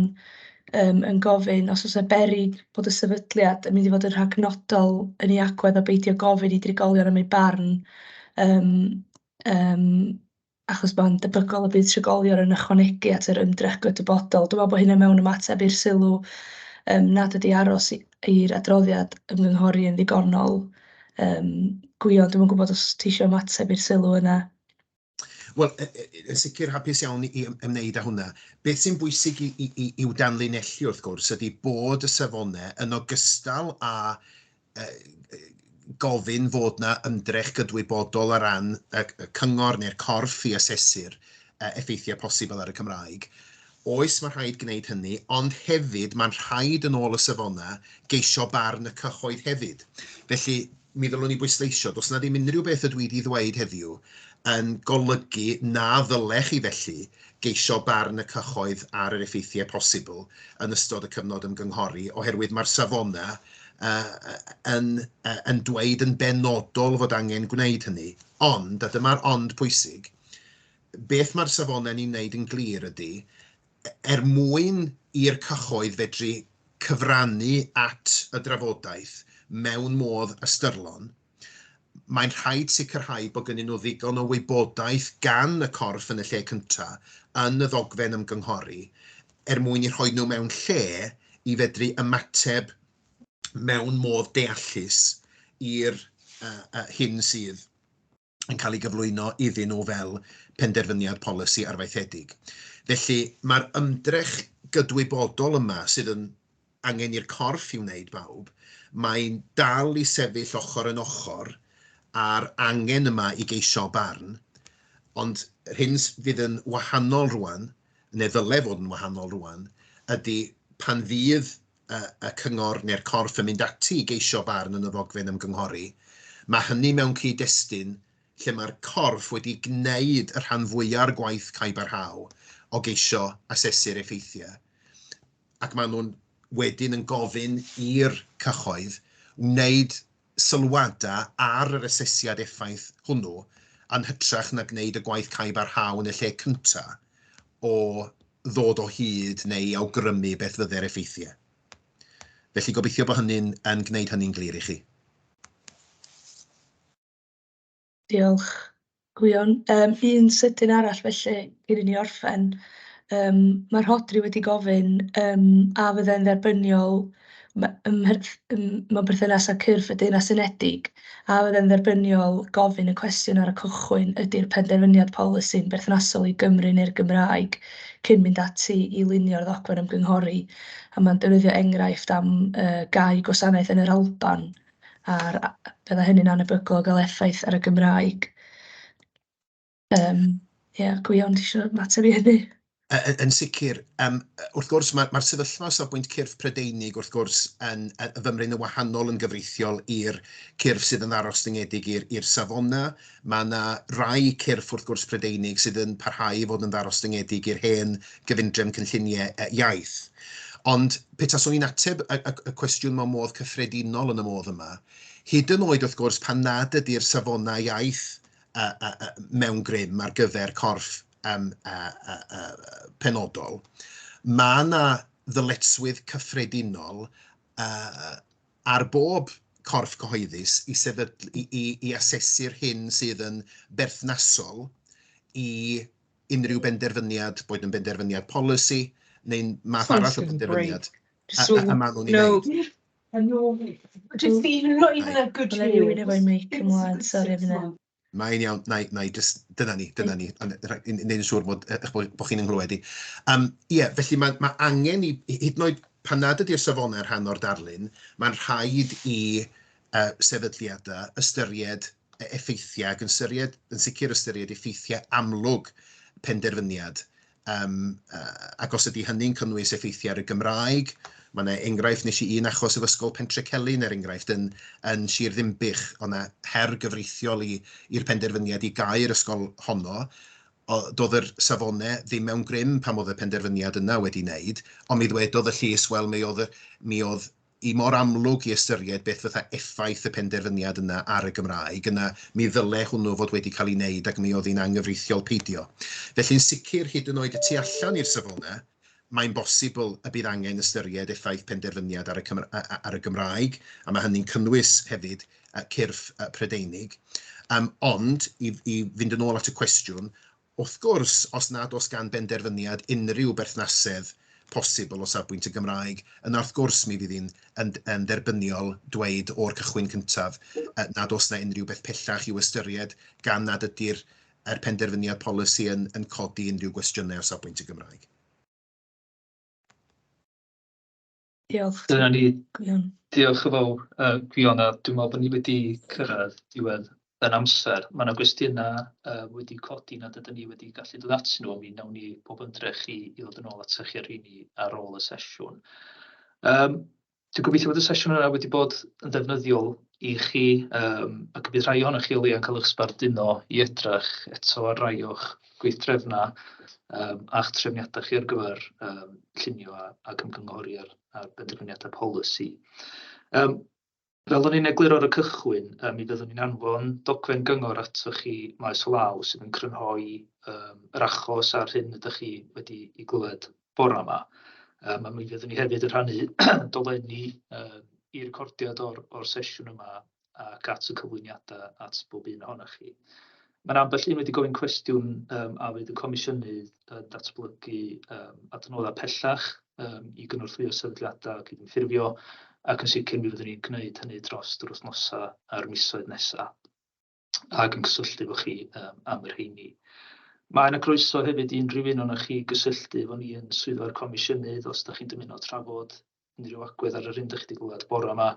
yym yn gofyn os o's 'na beryg bod y sefydliad yn mynd i fod yn rhagnodol yn ei agwedd o beidio gofyn i drigolion am eu barn yym yym achos mae'n debygol y bydd trigolion yn ychwanegu at yr ymdrech gydwybodol. Dwi'n meddwl bod hynna mewn ymateb i'r sylw yym nad ydi aros i- i'r adroddiad ymgynghori yn ddigonol yym gwion. Dwi'm yn gwybod os ti isio ymateb i'r sylw yna? Wel, y- y- y- yn sicr hapus iawn i ym- ymwneud â hwnna. Beth sy'n bwysig i, i, i, i'w danlinellu wrth gwrs ydy bod y safonau yn ogystal â gofyn fod yna ymdrech gydwybodol o ran y cyngor neu'r corff i asesu'r effeithiau posibl ar y Cymraeg. Oes, mae'n rhaid gwneud hynny, ond hefyd mae'n rhaid, yn ôl y safonau, geisio barn y cyhoedd hefyd. Felly, mi ddylwn i bwysleisio, does yna ddim unrhyw beth ydw i wedi ddweud heddiw yn golygu na ddylech chi felly geisio barn y cyhoedd ar yr effeithiau posibl yn ystod y cyfnod ymgynghori, oherwydd mae'r safonau yy yn yy yn dweud yn benodol fod angen gwneud hynny, ond, a dyma'r ond pwysig, beth mae'r safonau ni'n wneud yn glir ydy, er mwyn i'r cyhoedd fedru cyfrannu at y drafodaeth mewn modd ystyrlon, Mae'n rhaid sicrhau bod gynnyn nhw ddigon o wybodaeth gan y corff yn y lle cyntaf, yn y ddogfen ymgynghori, er mwyn eu rhoi nhw mewn lle i fedru ymateb mewn modd deallus i'r hyn sydd yn cael ei gyflwyno iddyn nhw fel penderfyniad polisi arfaethedig. Felly, mae'r ymdrech gydwybodol yma, sydd yn angen i'r corff i wneud bawb, mae'n dal i sefyll ochr yn ochr â'r angen yma i geisio barn, ond yr hyn fydd yn wahanol rŵan, neu ddylai fod yn wahanol rŵan, ydy pan fydd y cyngor neu'r corff yn mynd ati i geisio barn yn y ddogfen ymgynghori, mae hynny mewn cyd-destun lle mae'r corff wedi gwneud y rhan fwya' o'r gwaith caebarhaol o geisio asesu'r effeithiau. ac maen nhw'n wedyn yn gofyn i'r cyhoedd wneud sylwadau ar yr asesiad effaith hwnnw yn hytrach na gwneud y gwaith cau barhaol yn y lle cyntaf o ddod o hyd neu i awgrymu beth fydde'r effeithiau. Felly gobeithio bod hynny'n yn gwneud hynny'n glir i chi. Diolch, Gwion. Yym un sydyn arall felly cyn i ni orffen, yym ma' Rhodri wedi gofyn yym a fyddai'n dderbyniol m- ym mherth- yym mewn perthynas â cyrff y Deyrnas Unedig, a fyddai'n dderbyniol gofyn y cwestiwn ar y cychwyn, ydy'r penderfyniad polisi'n berthnasol i Gymru neu'r Gymraeg, cyn mynd ati i lunio'r ddogfen ymgynghori, a ma'n defnyddio enghraifft am yy gau gwasanaeth yn yr Alban. a'r a- byddai hynny'n anhebygol o gael effaith ar y Gymraeg. Yym ia, Gwion, ti isio ymateb i hynny? Yy yn sicr, yym wrth gwrs ma' ma'r sefyllfa o safbwynt cyrff Prydeinig wrth gwrs yn yy fymryn yn wahanol yn gyfreithiol i'r cyrff sydd yn ddarostyngedig i'r i'r safona'. Mae yna rai cyrff, wrth gwrs, Prydeinig sydd yn parhau i fod yn ddarostyngedig i'r hen gyfundrefn cynlluniau iaith. Ond pe taswn i'n ateb y, y, y cwestiwn mewn modd cyffredinol yn y modd yma, hyd yn oed wrth gwrs pan nad ydy'r safonau iaith uh, uh, uh, mewn grym ar gyfer corff um, uh, uh, uh, penodol, mae yna ddyletswydd cyffredinol uh, ar bob corff cyhoeddus i sefydlu, i, i, i asesu'r hyn sydd yn berthnasol i unrhyw benderfyniad, boed yn benderfyniad polisi neu'n math arall o benderfyniad a, a, a maen nhw'n ei wneud. Just even, not even a good Let me read it by mic ymlaen, sori fy Mae'n iawn, na i, na i, just, dyna ni, dyna ni, wneud yn siŵr bod, eh, bod, bod chi'n ynghlywed i. Um, ie, yeah, felly mae, mae angen i, hyd yn oed pan nad ydy'r safonau rhan o'r darlun, mae'n rhaid i uh, sefydliadau ystyried e, effeithiau ac yn, syried, yn sicr ystyried effeithiau amlwg penderfyniad Yym ac os ydy hynny'n cynnwys effeithiau ar y Gymraeg, mae 'na enghraifft, wnes i un achos o Ysgol Pentrecelyn er enghraifft yn yn Sir Ddinbych, oedd 'na her gyfreithiol i i'r penderfyniad i gau'r ysgol honno, doedd yr safonau ddim mewn grym pan oedd y penderfyniad yna wedi 'neud, ond mi ddwedodd y llys wel mi oedd y mi oedd i mor amlwg i ystyried beth fytha effaith y penderfyniad yna ar y Gymraeg, yna mi ddyle hwnnw fod wedi cael ei wneud ac mi oedd hi'n anghyfreithiol peidio. Felly'n sicr, hyd yn oed y tu allan i'r Safonau, mae'n bosibl y bydd angen ystyried effaith penderfyniad ar y ar y Gymraeg, a mae hynny'n cynnwys hefyd cyrff Prydeinig. Ond, i i fynd yn ôl at y cwestiwn, Wrth gwrs, os nad oes gan benderfyniad unrhyw berthnasedd posibl o safbwynt y Gymraeg, yna wrth gwrs mi fydd hi'n yn dderbyniol dweud o'r cychwyn cyntaf nad oes yna unrhyw beth pellach i'w ystyried gan nad ydy'r er penderfyniad polisi yn codi unrhyw gwestiynau o safbwynt y Gymraeg. Diolch. Dyna ni. Gwion. Diolch yn fawr, uh, Gwion, a dwi'n meddwl bod ni wedi cyrraedd diwedd yn amser. Mae yna gwestiynau uh, wedi codi nad ydym ni wedi gallu dod at nhw, mi wnawn ni pob ymdrech i, i ddod yn ôl at chi ar rheini ar ôl y sesiwn. Um, dwi'n gobeithio bod y sesiwn yna wedi bod yn ddefnyddiol i chi yym ac bydd rhai ohonoch chi o leia'n cael eich sbarduno i edrych eto ar rai o'ch gweithdrefnau yym a'ch trefniadau chi ar gyfer yym llunio a ac ymgynghori ar ar benderfyniadau polisi. Yym fel o'n i'n egluro ar y cychwyn yy mi fyddwn ni'n anfon dogfen gyngor atoch chi maes o law sydd yn crynhoi yym yr achos a'r hyn ydach chi wedi ei glywed. bore 'ma. Yym a mi fyddwn ni hefyd yn rhannu dolenni yy i recordiad o'r o'r sesiwn yma ac at y cyflwyniadau at bob un ohonoch chi. Ma' 'na ambell un wedi gofyn cwestiwn yym a fydd y Comisiynydd yn datblygu yym adnoddau pellach yym i gynorthwyo sefydliadau cydymffurfio ac yn sicr mi fyddwn ni'n gwneud hynny dros yr wythnosau a'r misoedd nesaf. ac yn cysylltu efo chi um, am y rheini. Mae yna groeso hefyd i unrhyw un o'na chi gysylltu efo ni yn swyddfa'r comisiynydd os da chi'n dymuno trafod unrhyw agwedd ar yr hyn da chi wedi gweld bore yma.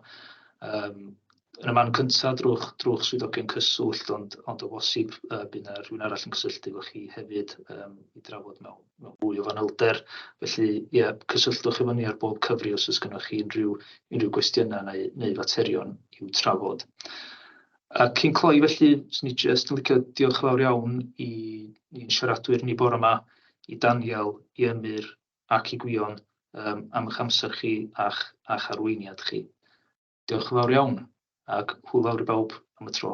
Um, yn y man cyntaf drwch, drwch swyddogion cyswllt, ond, ond o bosib uh, bydd yna rhywun arall yn cysylltu efo chi hefyd um, i drafod mewn, mewn fwy o fanylder. Felly, ie, yeah, cysylltwch efo ni ar bob cyfri os oes gennych chi unrhyw, unrhyw gwestiynau neu, neu faterion i'w trafod. A cyn cloi felly, 'swn i jyst yn licio diolch yn fawr iawn i ni'n siaradwyr ni bore yma, i Daniel, i Emyr ac i Gwion um, am eich amser chi a'ch, a'ch arweiniad chi. Diolch yn fawr iawn ac hwyl fawr i bawb am y tro.